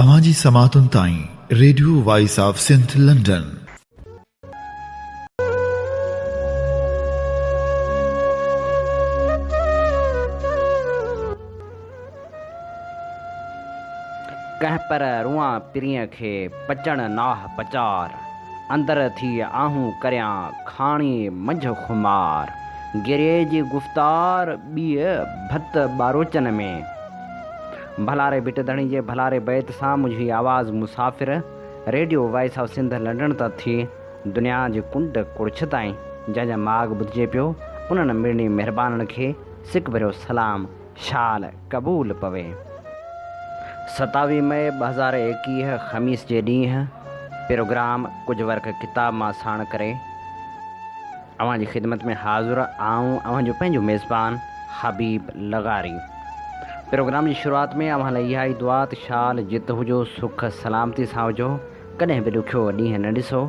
اوهان جي سماعتن تائين radio voice of Sindh London. ڪنهن پر روئان پرينء کي پچڻ ناهه پچار اندر ٿي آهون ڪريان کاڻي منجهه خمار گريء جي گفتار ٻيء ڀت ٻاروچن ۾. ڀلاري ڀٽ ڌڻي جي ڀلاري بيت سان منهنجي آواز مسافر radio voice of Sindh London تان ٿي دنيا جي ڪنڊ ڪڙڇ تائين جنهن جا ماڳ ٻڌجي پيو انهن مڙني مهربانن کي سڪ ڀريو سلام شال قبول پوي. ستاويهه مئي ٻه هزار ايڪيهه خميس جي ڏينهن پروگرام ڪجهه ورق ڪتاب مان ساڻ ڪري. اوهان جي خدمت ۾ حاضر آئون اوهان جو پنهنجو ميزبان حبيب لغاري پروگرام جي شروعات ۾ اوهان لاء اها ئي دعا ته شال جت هجو سک سلامتي سان هجو ڪڏهن به ڏکيو ڏينهن نه ڏسو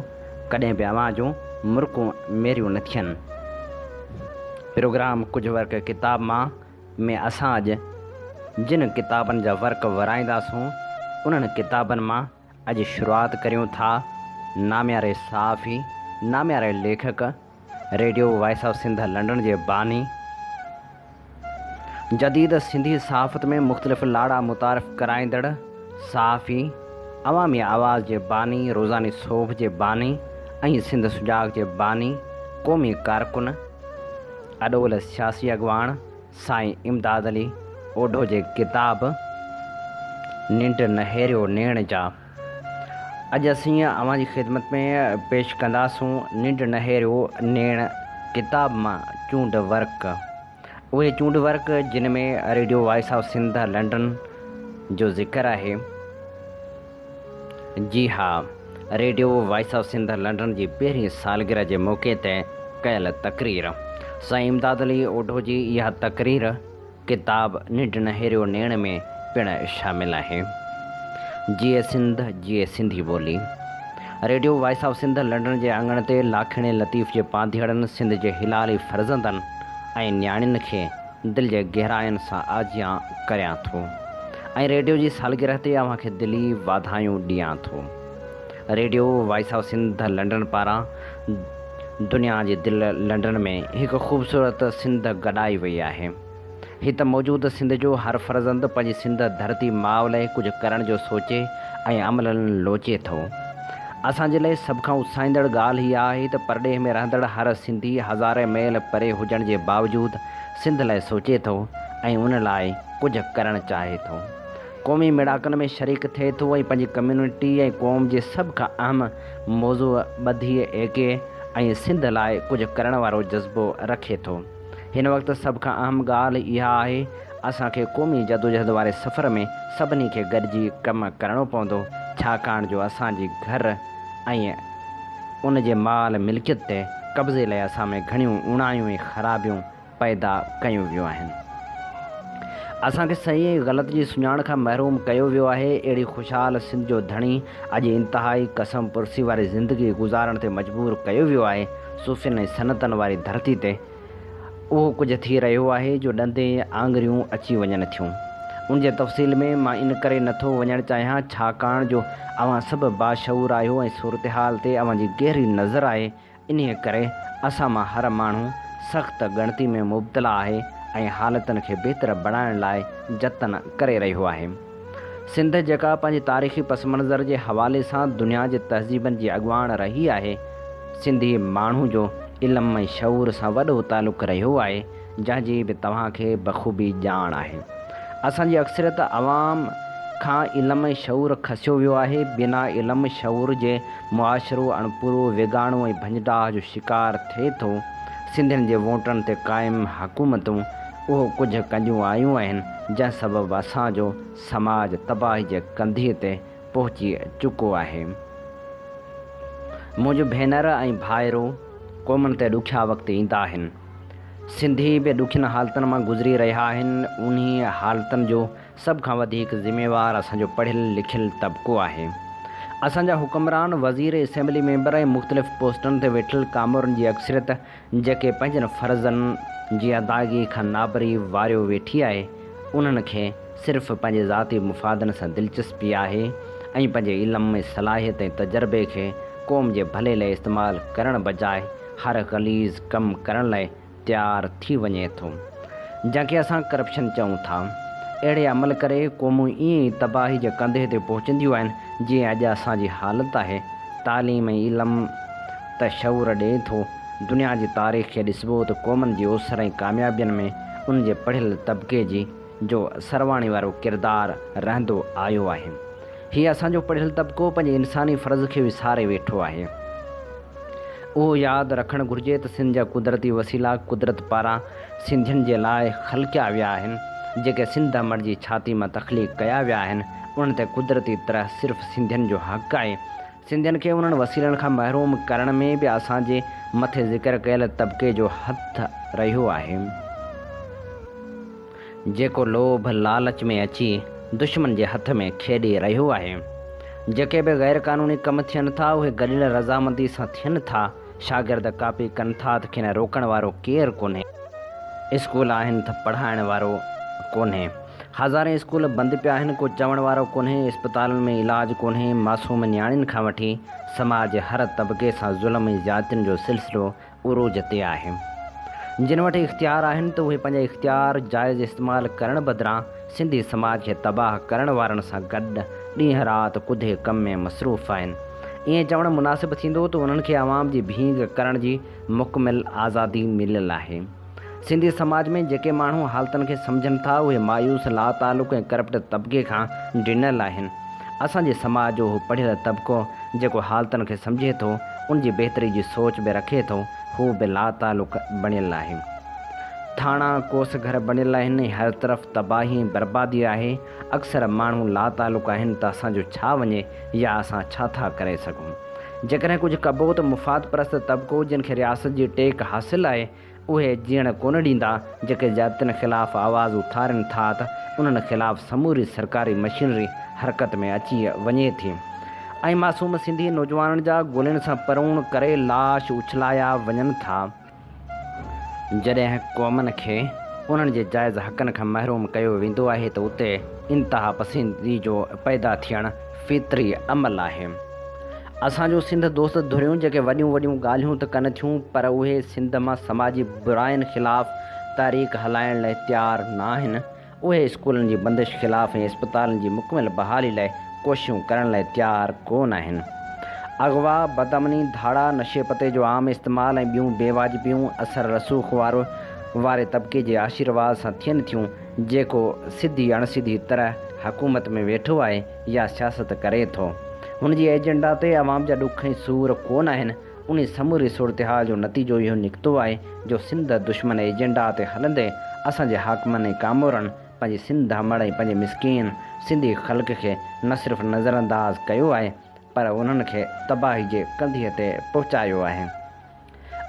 ڪڏهن به اوهان جون مرڪون ميريون نه ٿين پروگرام ڪجهه ورق ڪتاب مان ۾ اسان اڄ جن ڪتابن جا ورق ورائينداسون انهن ڪتابن مان اڄ شروعات ڪريون ٿا نامياري صحافي، نامياري ليکڪ، radio voice of Sindh London جي باني، جديد سنڌي صحافت ۾ مختلف لاڙا متعارف ڪرائيندڙ، صحافي، عوامي آواز جي باني، روزاني صحف جي باني ۽ سنڌ سجاڳ جي باني، قومي ڪارڪن، اڏول سياسي اڳواڻ، سائين امداد علي اوڍو جي ڪتاب ننڊ نهيريو نيڻ جا اڄ اسين اوهان جي خدمت ۾ پيش ڪنداسون ننڊ نهيريو نيڻ ڪتاب مان چونڊ ورق اهي چونڊ ورق جن ۾ radio voice of Sindh London جو ذڪر آهي. جي ها، radio voice of Sindh London جي پهرين سالگرهه جي موقعي تي ڪيل تقرير. سائين امداد علي اوڍو جي اها تقرير ڪتاب ننڊ نهيريو نيڻ ۾ پڻ شامل آهي. جيئي سنڌ جيئي سنڌي ٻولي. Radio voice of Sindh London جي اڱڻ تي لاکيڻي لطيف جي پانڌيئڙن سنڌ جي حلالي فرزندن ۽ نياڻين کي دل جي گهراين سان آجيان ڪريان ٿو ۽ ريڊيو جي سالگرهه تي اوهان کي دلي واڌايون ڏيان ٿو. Radio voice of Sindh London پاران دنيا جي دل لنڊن ۾ هڪ خوبصورت سنڌ گڏائي وئي آهي. هي ته موجود سنڌ جو هر فرزند پنهنجي سنڌ ڌرتي ماء لئه ڪجهه ڪرڻ جو سوچي ۽ عملاً لوچي ٿو. اسان جي لاء سڀ کان اتساهيندڙ ڳالهه اها آهي ته پرڏيهه ۾ رهندڙ هر سنڌي هزارين ميل پري هجڻ جي باوجود سنڌ لاء سوچي ٿو ۽ ان لاء ڪجهه ڪرڻ چاهي ٿو. قومي ميڙاڪن ۾ شريڪ ٿئي ٿو ۽ پنهنجي ڪميونٽي ۽ قوم جي سڀ کان اهم موضوع ٻڌي ايڪي ۽ سنڌ لاء ڪجهه ڪرڻ وارو جذبو رکي ٿو. هن وقت سڀ کان اهم ڳالهه اها آهي اسان کي قومي جدوجهد واري سفر ۾ سڀني کي گڏجي ڪم ڪرڻو پوندو، ڇاڪاڻ جو اسان جي گهر ۽ ان جي مال ملڪيت تي قبضي لئي اسان ۾ گهڻيون اوڻايون ۽ خرابيون پيدا ڪيون ويون آهن. اسان کي صحيح ۽ غلط جي سڃاڻ کان محروم ڪيو ويو آهي. اهڙي خوشحال سنڌ جو ڌڻي اڄ انتهائي قسم پرسي واري زندگي گذارڻ تي مجبور ڪيو ويو آهي. صوفين ۽ سنتن واري ڌرتي تي اهو ڪجهه ٿي رهيو آهي جو ڏند ۽ آڱريون اچي وڃن ٿيون. ان جي تفصيل ۾ مان ان ڪري نه ٿو وڃڻ چاهيان ڇاڪاڻ جو اوهان سڀ باشعور آهيو ۽ صورتحال تي اوهان جي گهري نظر آهي انهيء ڪري اسان مان هر ماڻهو سخت ڳڻتي ۾ مبتلا آهي ۽ حالتن کي بهتر بڻائڻ لاء جتن ڪري رهيو آهي. سنڌ جيڪا پنهنجي تاريخي پس منظر جي حوالي سان دنيا جي تهذيبن جي اڳواڻ رهي آهي، سنڌي ماڻهو جو علم ۽ شعور سان وڏو تعلق رهيو آهي، جنهن جي به توهان کي بخوبي ڄاڻ آهي. اسان جي اڪثريت عوام کان علم ۽ شعور کسيو ويو آهي، بنا علم شعور جي معاشرو اڻپورو، ويڳاڻو ۽ ڀڃ ڊاهه جو شڪار ٿئي ٿو، سنڌين جي ووٽن تي قائم حڪومتون اهو ڪجهه ڪنجون آيون آهن جنهن سبب اسان جو سماج تباهي جي ڪنڌيء تي پهچي چڪو آهي. منهنجون ڀينر ۽ ڀائرو قومن تي ڏکيا وقت ايندا آهن. سنڌي به ڏکين حالتن مان گذري رهيا آهن. انهيء حالتن جو سڀ کان وڌيڪ ذميوار اسان جو پڙهيل لکيل طبقو آهي. اسان جا حڪمران، وزير، اسيمبلي ميمبر ۽ مختلف پوسٽن تي ويٺل ڪامورن جي اڪثريت جيڪي پنهنجن فرضن جي ادائگي کان نابري واريو ويٺي آهي، انهن کي صرف پنهنجي ذاتي مفادن سان دلچسپي آهي ۽ پنهنجي علم، صلاحيت ۽ تجربي کي قوم جي ڀلي لاء استعمال ڪرڻ بجاء هر غليظ ڪم ڪرڻ لاء تيار ٿي وڃي ٿو، جنهن کي اسان ڪرپشن چئون ٿا. اهڙي عمل ڪري قومون ائين ئي تباهي جي ڪنڌي تي پهچنديون آهن، جيئن اڄ اسان جي حالت آهي. تعليم ۽ علم. ته شعور ڏئي ٿو. دنيا جي تاريخ کي ڏسبو ته قومن جي اوسر ۽ ڪاميابين ۾ ان جي پڙهيل طبقي جي جو سرواڻي وارو ڪردار رهندو آيو آهي. هيء اسان جو پڙهيل طبقو پنهنجي انساني فرض کي وساري ويٺو آهي. اهو ياد رکڻ گهرجي ته سنڌ جا قدرتي وسيلا قدرت پاران سنڌين جي لاء خلقيا ويا آهن. جيڪي سنڌ امڙ جي ڇاتي مان تخليق ڪيا ويا آهن، انهن تي قدرتي طرح صرف سنڌين جو حق آهي. سنڌين کي انهن وسيلن کان محروم ڪرڻ ۾ به اسان جي مٿي ذڪر ڪيل طبقي جو هٿ رهيو آهي، جيڪو لوڀ لالچ ۾ اچي دشمن جي هٿ ۾ کيڏي رهيو آهي. جيڪي به غيرقانوني ڪم ٿين ٿا، اهي گڏيل رضامندي سان ٿين ٿا. شاگرد ڪاپي ڪن ٿا ته کين روڪڻ وارو ڪير ڪونهي. اسڪول آهن ته پڙهائڻ وارو ڪونهي. هزارين اسڪول بند پيا آهن ڪو چوڻ وارو ڪونهي. اسپتالن ۾ علاج ڪونهي. معصوم نياڻين کان وٺي سماج جي هر طبقي سان ظلم ۽ زيادتين جو سلسلو عروج تي آهي. جن وٽ اختيار آهن ته اهي پنهنجا اختيار جائز استعمال ڪرڻ بدران سنڌي سماج کي تباهه ڪرڻ وارن سان گڏ ڏينهن رات ڪڌي ڪم ۾ مصروف آهن. ائين چوڻ مناسب ٿيندو ته انهن کي عوام جي ڀينگ ڪرڻ جي مڪمل آزادي مليل آهي. سنڌي سماج ۾ جيڪي ماڻهو حالتن کي سمجهن ٿا اهي مايوس، لاتعلق ۽ ڪرپٽ طبقي کان ڊنل آهن. اسان جي سماج جو اهو پڙهيل طبقو جيڪو حالتن کي سمجهي ٿو، ان جي بهتري جي سوچ به رکي ٿو، هو به لاتعلق بڻيل آهي. ٿاڻا ڪوس گهر بڻيل آهن ۽ هر طرف تباهي ۽ بربادي آهي. اڪثر ماڻهو لاتعلق آهن ته اسان جو ڇا وڃي يا اسان ڇا ٿا ڪري سگهون. جيڪڏهن ڪجهه ڪبو ته مفاد پرست طبقو جن کي رياست جي ٽيڪ حاصل آهي اهي جيئڻ ڪونه ڏيندا. جيڪي زيادتين خلاف آواز اٿارين ٿا ته انهن خلاف سموري سرڪاري مشينري حرڪت ۾ اچي وڃي ٿي ۽ معصوم سنڌي نوجوانن جا گولين سان پروڻ ڪري لاش اڇلايا وڃن ٿا. جڏهن قومن کي انهن جي جائز حقن کان محروم ڪيو ويندو آهي ته اتي انتها پسندي جو پيدا ٿيڻ فطري عمل آهي. اسان جون سنڌ دوست ڌريون جيڪي وڏيون وڏيون ڳالهيون ته ڪن ٿيون پر اهي سنڌ مان سماجي براين خلاف تحريڪ هلائڻ لاء تيار ناهن اهي اسڪولن جي بندش خلاف ۽ اسپتالن جي مڪمل بحالي لاء ڪوششون ڪرڻ لاء تيار ڪو نه آهن. اغوا، بدامني، ڌاڙا، نشي پتي جو عام استعمال ۽ ٻيون بي واجبيون اثر رسوخ وارو واري طبقي جي آشيرواد سان ٿين ٿيون جيڪو سڌي اڻ سڌي طرح حڪومت ۾ ويٺو آهي يا سياست ڪري ٿو. هن جي ايجنڊا تي عوام جا ڏک ۽ سور ڪو نه آهن. ان سموري صورتحال جو نتيجو اهو نڪتو آهي جو سنڌ دشمن ايجنڊا تي هلندي اسان جي حاڪمن ۽ ڪامورن پنهنجي سنڌ امڙ ۽ پنهنجي مسڪين سنڌي خلق کي نه صرف نظرانداز ڪيو آهي پر انهن کي تباهي جي ڪنڌيء تي پهچايو آهي.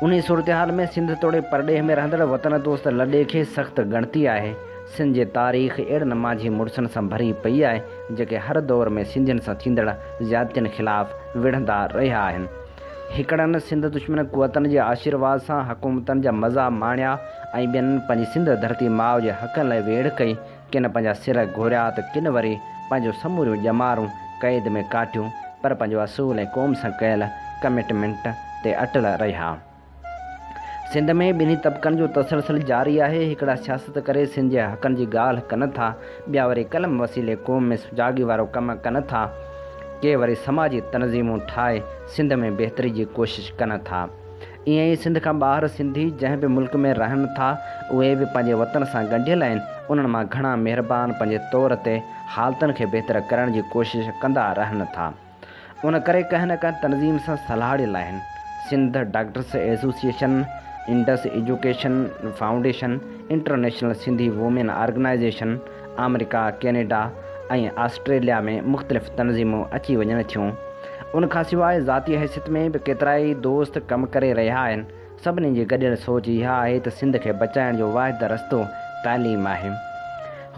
انهي صورتحال ۾ سنڌ توڙي پرڏيهه ۾ رهندڙ وطن دوست لڏي کي سخت ڳڻتي آهي. سنڌ جي تاريخ اهڙن ماجهي مڙسن سان ڀري پئي آهي، جيڪي هر دور ۾ سنڌين سان ٿيندڙ زيادتين خلاف وڙهندا رهيا آهن. هڪڙن سنڌ دشمن قوتن جي آشيرواد سان حڪومتن جا مزا ماڻيا ۽ ٻين پنهنجي سنڌ ڌرتي ماء جي حقن لاء ويڙهه ڪئي، ڪن پنهنجا سر گهوريا ته ڪن وري پنهنجون سموريون ڄمارون قيد ۾ ڪاٽيون، پر پنهنجو اصول ۽ قوم سان ڪيل ڪمٽمينٽ تي اٽل رهيا. سنڌ ۾ ٻنهي طبقن جو تسلسل جاري آهي، هڪڙا سياست ڪري سنڌ جي حقن جي ڳالهه ڪن ٿا، ٻيا وري قلم وسيلي قوم ۾ سجاڳي وارو ڪم ڪن ٿا، ڪي وري سماجي تنظيمون ٺاهي سنڌ ۾ بهتري جي ڪوشش ڪن ٿا. ائين ئي سنڌ کان ٻاهر سنڌي جنهن به ملڪ ۾ رهن ٿا، اهي به پنهنجي وطن سان ڳنڍيل آهن، انهن مان گهڻا مهربان پنهنجي طور تي حالتن کي بهتر ڪرڻ جي ڪوشش ڪندا رهن ٿا. ان ڪري ڪنهن نه ڪنهن تنظيم سان سلهاڙيل آهن. Sindh doctors association, Indus education foundation, international Sindhi women organisation, آمريڪا، ڪينيڊا ۽ آسٽريليا ۾ مختلف تنظيمون اچي وڃن ٿيون. ان کان سواء ذاتي حيثيت ۾ به ڪيترائي دوست ڪم ڪري رهيا آهن. سڀني جي گڏيل سوچ اها آهي ته سنڌ کي بچائڻ جو واحد رستو تعليم آهي.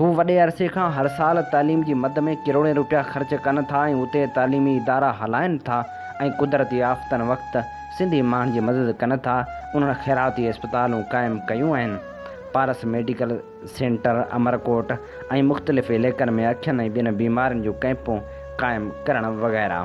هو وڏي عرصي کان هر سال تعليم جي مد ۾ ڪروڙين روپيا خرچ ڪن ٿا ۽ اتي تعليمي ادارا هلائن ٿا ۽ قدرتي آفتن وقت سنڌي ماڻهن جي مدد ڪن ٿا. انهن خيراتي اسپتالون قائم ڪيون آهن. پارس ميڊيڪل. سينٽر، امرڪوٽ ۽ مختلف عليقن ۾ اکين ۽ ٻين بيمارين جون ڪئمپون قائم ڪرڻ وغيره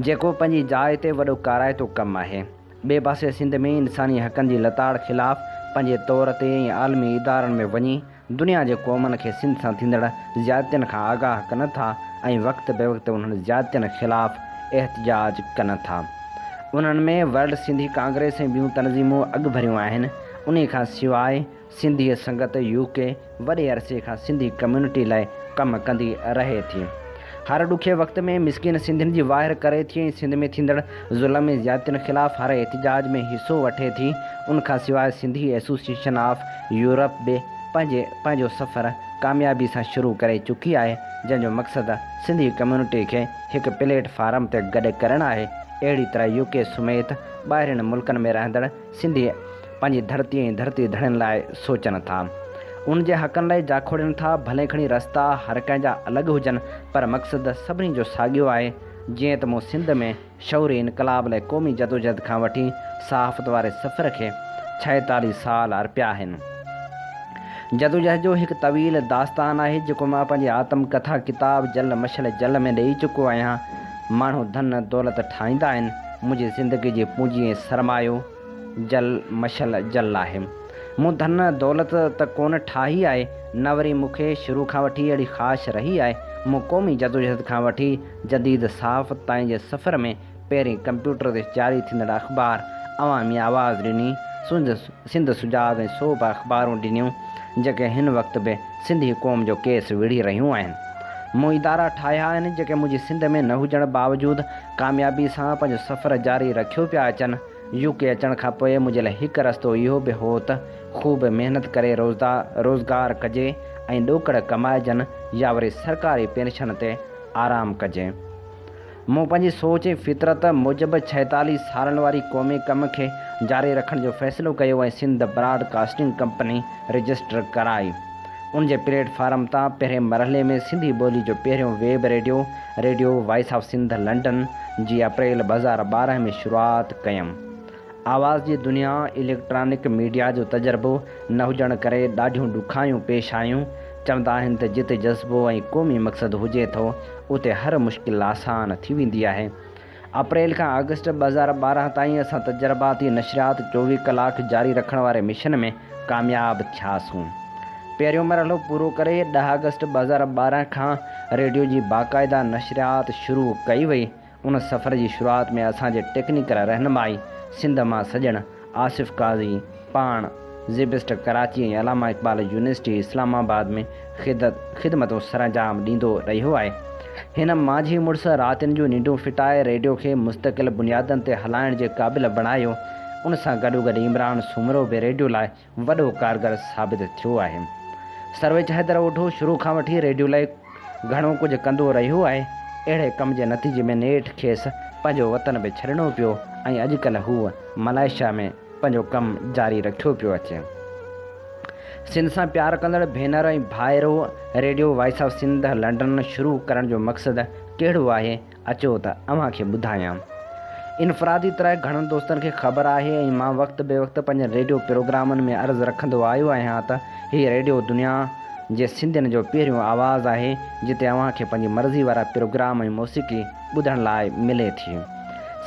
جيڪو پنهنجي جاء تي وڏو ڪارائتو ڪم آهي. ٻئي پاسي سنڌ ۾ انساني حقن جي لتاڙ خلاف پنهنجي طور تي ۽ عالمي ادارن ۾ وڃي دنيا جي قومن کي سنڌ سان ٿيندڙ زيادتين کان آگاهه ڪن ٿا ۽ وقت بي وقت انهن زيادتين خلاف احتجاج ڪن ٿا انهن ۾ ورلڊ سنڌي ڪانگريس ۽ ٻيون تنظيمون اڳڀريون آهن انهي کان سواء سنڌي سنگت UK وڏي عرصي کان سنڌي ڪميونٽي لاء ڪم ڪندي رهي ٿي. هر ڏکي وقت ۾ مسڪين سنڌين جي واهر ڪري ٿي ۽ سنڌ ۾ ٿيندڙ ظلم ۽ زيادتين خلاف هر احتجاج ۾ حصو وٺي ٿي. ان کان سواء سنڌي ايسوسيئيشن آف يورپ به پنهنجي پنهنجو سفر ڪاميابي سان شروع ڪري چڪي آهي جنهن جو مقصد سنڌي ڪميونٽي کي هڪ پليٽ فارم تي گڏ ڪرڻ آهي اهڙي طرح UK سميت ٻاهرين ملڪن ۾ رهندڙ سنڌي پنهنجي ڌرتي ۽ ڌرتي ڌڻين لاء سوچن ٿا، ان جي حقن لاء جاکوڙين ٿا، ڀلي کڻي رستا هر ڪنهن جا الڳ هجن پر مقصد سڀني جو ساڳيو آهي، جيئن ته مون سنڌ ۾ شعوري انقلاب لاء قومي جدوجهد کان وٺي صحافت واري سفر کي ڇائيتاليهه سال ارپيا آهن. جدوجهد جو هڪ طويل داستان آهي، جيڪو مان پنهنجي آتم ڪٿا ڪتاب جل مشعل جل ۾ ڏئي چڪو آهيان، ماڻهو ڌن دولت ٺاهيندا آهن، منهنجي زندگي جي پونجي ۽ سرمايو جل مشل جل آهي. مون ڌن دولت ته ڪونه ٺاهي آهي، نه وري مون کي شروع کان وٺي اهڙي خواهش رهي آهي. مون قومي جدوجهد کان وٺي جديد صحافت تائين جي سفر ۾ پهرين ڪمپيوٽر تي جاري ٿيندڙ اخبار عوامي آواز ڏني، سنڌ سجاڳ ۽ سوڀ اخبارون ڏنيون، جيڪي هن وقت به سنڌي قوم جو ڪيس وڙهي رهيون آهن. مون ادارا ٺاهيا آهن، جيڪي منهنجي سنڌ ۾ نه هجڻ باوجود ڪاميابي سان پنهنجو سفر جاري رکيو پيا اچن. يو ڪي اچڻ کان پوء منهنجي لاء هڪ رستو اهو به هو ته خوب محنت ڪري روزدا روزگار ڪجي ۽ ڏوڪڙ ڪمائجن يا وري سرڪاري پينشن تي آرام ڪجي. مون پنهنجي سوچ ۽ فطرت موجب ڇهيتاليهه سالن واري قومي ڪم کي جاري رکڻ جو فيصلو ڪيو ۽ Sindh broadcasting company register ڪرائي. ان جي پليٽ فارم تان پهرين مرحلي ۾ سنڌي ٻولي جو پهريون web radio, radio voice of Sindh London, جي اپريل ٻه هزار ٻارهن ۾ شروعات ڪيم. آواز جي دنيا، اليڪٽرانڪ ميڊيا جو تجربو نه هجڻ ڪري ڏاڍيون ڏکايون پيش آيون. چوندا آهن ته جتي جذبو ۽ قومي مقصد هجي ٿو، اتي هر مشڪل آسان ٿي ويندي آهي. اپريل کان آگسٽ ٻه هزار ٻارهن تائين اسان تجرباتي نشريات چوويهه ڪلاڪ جاري رکڻ واري مشن ۾ ڪامياب ٿياسون. پهريون مرحلو پورو ڪري ڏهه آگسٽ ٻه هزار ٻارهن کان ريڊيو جي باقاعده نشريات شروع ڪئي وئي. ان سفر جي شروعات ۾ اسان جي ٽيڪنيڪل رهنمائي سنڌ مان سڄڻ آصف قاضي پاڻ زيبسٽ ڪراچي ۽ علامه اقبال يونيورسٽي اسلام آباد ۾ خدمتون سرانجام ڏيندو رهيو آهي. هن مانجهي مڙس راتين جون ننڊون ڦٽائي ريڊيو کي مستقل بنيادن تي هلائڻ جي قابل بڻايو. ان سان گڏوگڏ عمران سومرو به ريڊيو لاء وڏو ڪارگر ثابت ٿيو آهي. سرويچ حيدر اوڍو شروع کان وٺي ريڊيو لاء گهڻو ڪجهه ڪندو رهيو آهي، اهڙي ڪم جي نتيجي ۾ نيٺ کيس پنهنجو وطن به ڇڏڻو پيو ۽ اڄڪلهه هو ملائيشيا ۾ پنهنجو ڪم جاري رکيو پيو اچي. سنڌ سان پيار ڪندڙ ڀينر ۽ ڀائرو، radio voice of Sindh London شروع ڪرڻ جو مقصد ڪهڙو آهي؟ اچو ته اوهان کي ٻڌايان. انفرادي طرح گهڻن دوستن کي خبر آهي ۽ مان وقت بي وقت پنهنجن ريڊيو پروگرامن ۾ عرض رکندو آيو آهيان ته هي ريڊيو دنيا جي سنڌين جو پهريون آواز آهي جتي اوهان کي پنهنجي مرضي وارا پروگرام ۽ موسيقي ٻڌڻ لاء ملي ٿي.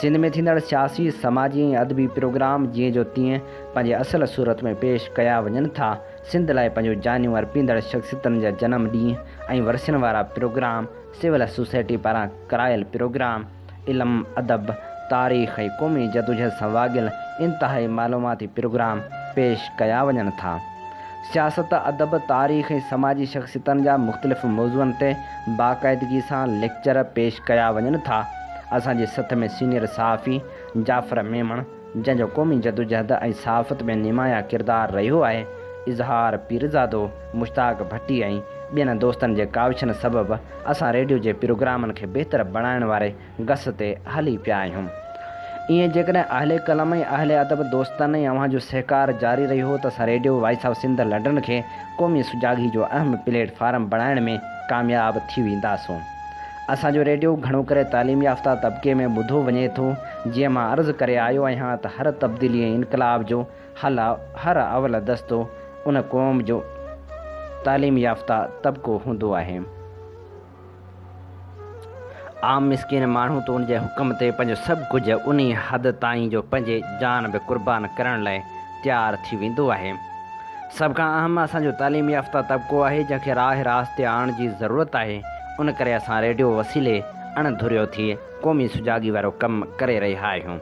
سنڌ ۾ ٿيندڙ سياسي، سماجي ۽ ادبي پروگرام جيئن جو تيئن پنهنجي اصل صورت ۾ پيش ڪيا وڃن ٿا. سنڌ لاء پنهنجون جانيون ارپيندڙ شخصيتن جا جنم ڏينهن ۽ ورسين وارا پروگرام، سول سوسائٽي پاران ڪرايل پروگرام علم، ادب، تاريخ ۽ قومي جدوجھد سان واڳيل انتهائي معلوماتي پروگرام پيش ڪيا وڃن ٿا. سياست، ادب، تاريخ ۽ سماجي شخصيتن جا مختلف موضوعن تي باقاعدگي سان ليڪچر پيش ڪيا وڃن ٿا. اسان جي سٿ ۾ سينيئر صحافي جعفر ميمڻ، جنهن جو قومي جدوجهد ۽ صحافت ۾ نمايان ڪردار رهيو آهي، اظهار پيرزادو، مشتاق ڀٽي ۽ ٻين دوستن جي ڪاوشن سبب اسان ريڊيو جي پروگرامن کي بهتر بڻائڻ واري گس تي هلي پيا آهيون. ايئن جيڪڏهن اهل قلم ۽ اهل ادب دوستن ۽ اوهان جو سهڪار جاري رهيو ته اسان radio voice of Sindh London کي قومي سجاڳي جو اهم پليٽ فارم بڻائڻ ۾ ڪامياب ٿي وينداسون. اسان جو ريڊيو گهڻو ڪري تعليم يافته طبقي ۾ ٻڌو وڃي ٿو. جيئن مان عرض ڪري آيو آهيان ته هر تبديلي ۽ انقلاب جو هل هر اول دستو ان قوم جو تعليم يافته طبقو هوندو آهي. عام مسڪين ماڻهو ته ان جي حڪم تي پنهنجو سڀ ڪجهه انهي حد تائين جو پنهنجي جان به قربان ڪرڻ لاء تيار ٿي ويندو آهي. سڀ کان اهم اسان جو تعليم يافته طبقو آهي جنهن کي راهه راست تي آڻڻ جي ضرورت آهي ان ڪري اسان ريڊيو وسيلي اڻ ڌريو ٿي قومي سجاڳي وارو ڪم ڪري رهيا آهيون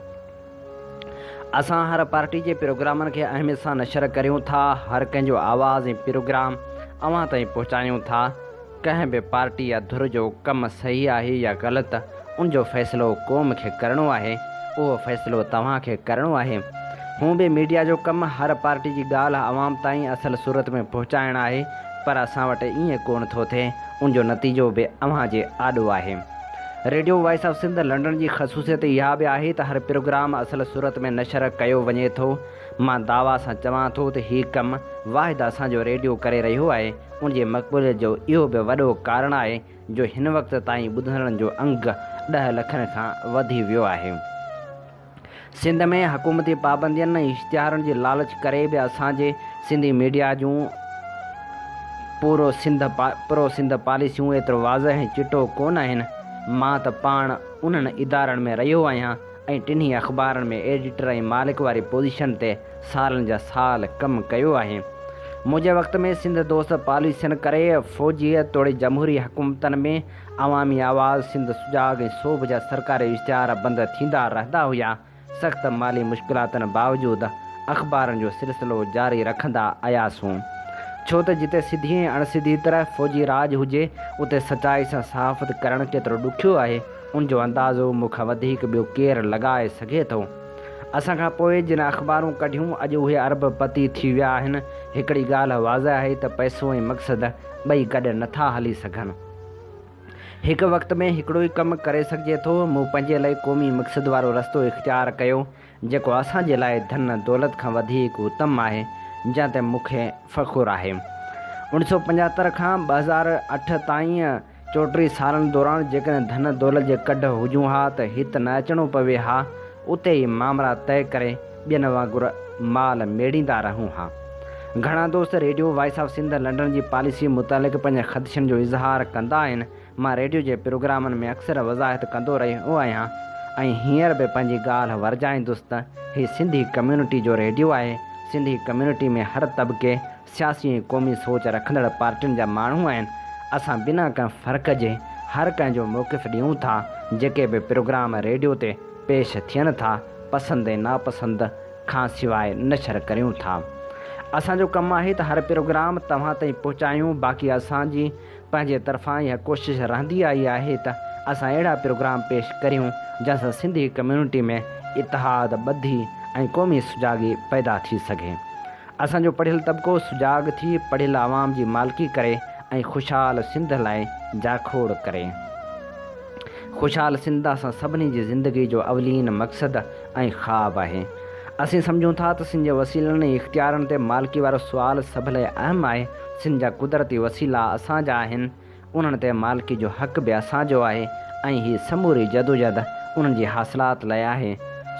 اسان هر پارٽي جي پروگرامن کي اهميت سان نشر ڪريون ٿا هر ڪنهن جو آواز ۽ پروگرام اوهان تائين پهچايون ٿا. ڪنهن به پارٽي يا ڌر جو ڪم صحيح آهي يا غلط ان جو فيصلو قوم کي ڪرڻو آهي، اهو فيصلو توهان کي ڪرڻو آهي. هونء به ميڊيا جو ڪم هر پارٽي جي ڳالهه عوام تائين اصل صورت ۾ پهچائڻ آهي پر اسان وٽ ائين ڪونه ٿو ٿئي ان جو نتيجو به اوهان جي آڏو آهي. Radio voice of Sindh London جي خصوصيت اها به آهي ته هر پروگرام اصل صورت ۾ نشر ڪيو وڃي ٿو. مان دعويٰ سان چوان ٿو ته هي ڪم واحد اسان جو ريڊيو ڪري رهيو آهي. ان جي مقبوليت جو اهو به وڏو ڪارڻ آهي جو هن وقت تائين ٻڌندڙن جو انگ ڏهه لکن کان وڌي ويو آهي. سنڌ ۾ حڪومتي پابندين ۽ اشتهارن جي لالچ ڪري به اسان جي سنڌي ميڊيا جون پرو سنڌ پاليسيون ايترو واضح ۽ چٽو ڪونه آهن. مان ته پاڻ انهن ادارن ۾ رهيو آهيان. ۽ ٽنهي اخبارن ۾ ايڊيٽر ۽ مالڪ واري پوزيشن تي سالن جا سال ڪم ڪيو آهي. منهنجي وقت ۾ سنڌ دوست پاليسين ڪري فوجيء توڙي جمهوري حڪومتن ۾ عوامي آواز، سنڌ سجاڳ ۽ سوڀ جا سرڪاري اشتهار بند ٿيندا رهندا هيا. سخت مالي مشڪلاتن باوجود اخبارن جو سلسلو جاري رکندا آياسون. ڇو ته جتي سڌي ۽ اڻسڌي طرح فوجي راڄ هجي، اتي سچائي سان صحافت ڪرڻ ڪيترو ڏکيو آهي. ان جو اندازو مون کان وڌيڪ ٻيو ڪير لڳائي سگهي ٿو؟ اسان کان پوء جن اخبارون ڪڍيون، اڄ اهي ارب پتي ٿي ويا آهن. هڪڙي ڳالهه واضح آهي ته پئسو ۽ مقصد ٻئي گڏ نه ٿا هلي سگهن. هڪ وقت ۾ هڪڙو ئي ڪم ڪري سگهجي ٿو. مون پنهنجي لئه قومي مقصد وارو رستو اختيار ڪيو، جيڪو اسان جي لاء ڌن دولت کان وڌيڪ اتم آهي، جنهن تي مون کي فخر آهي. اوڻ سؤ پنجاتر کان ٻه هزار اٺ تائين، چوٽيهه سالن دوران جيڪڏهن ڌن دولت جي ڪڍ هجون ها ته هت نه اچڻو پوي ها، اتي ئي مامرا طئي ڪري ٻين وانگر مال ميڙيندا رهون ها. گهڻا دوست radio voice of Sindh London جي پاليسي متعلق پنهنجن خدشن جو اظهار ڪندا آهن، مان ريڊيو جي پروگرامن ۾ اڪثر وضاحت ڪندو رهيو آهيان ۽ هينئر به پنهنجي ڳالهه ورجائيندس ته هي سنڌي ڪميونٽي جو ريڊيو آهي، سنڌي ڪميونٽي ۾ هر طبقي، سياسي ۽ قومي سوچ رکندڙ پارٽين جا ماڻهو آهن، اسان بنا ڪنهن فرق جي هر ڪنهن جو موقف ڏيون ٿا، جيڪي به پروگرام ريڊيو تي پيش ٿين ٿا، پسند ۽ ناپسند کان سواء نشر ڪريون ٿا. اسان جو ڪم آهي ته هر پروگرام توهان تائين پهچايون، باقي اسان جي پنهنجي طرفان اها ڪوشش رهندي آئي آهي ته اسان اهڙا پروگرام پيش ڪريون، جنهن سان سنڌي ڪميونٽي ۾ اتحاد، ٻڌي ۽ قومي سجاڳي پيدا ٿي سگهي. اسان جو پڙهيل طبقو سجاڳ ٿي پڙهيل عوام جي مالڪي ڪري ۽ خوشحال سنڌ لاء جاکوڙ ڪري. خوشحال سنڌ اسان سڀني جي زندگي جو اولين مقصد ۽ خواب آهي. اسين سمجهون ٿا ته سن جي وسيلن ۽ اختيارن تي مالڪي وارو سوال سڀ لاء اهم آهي. سن جا قدرتي وسيلا اسان جا آهن. انهن تي مالڪي جو حق به اسان جو آهي ۽ هي سموري جدوجهد انهن جي حاصلات لاء آهي.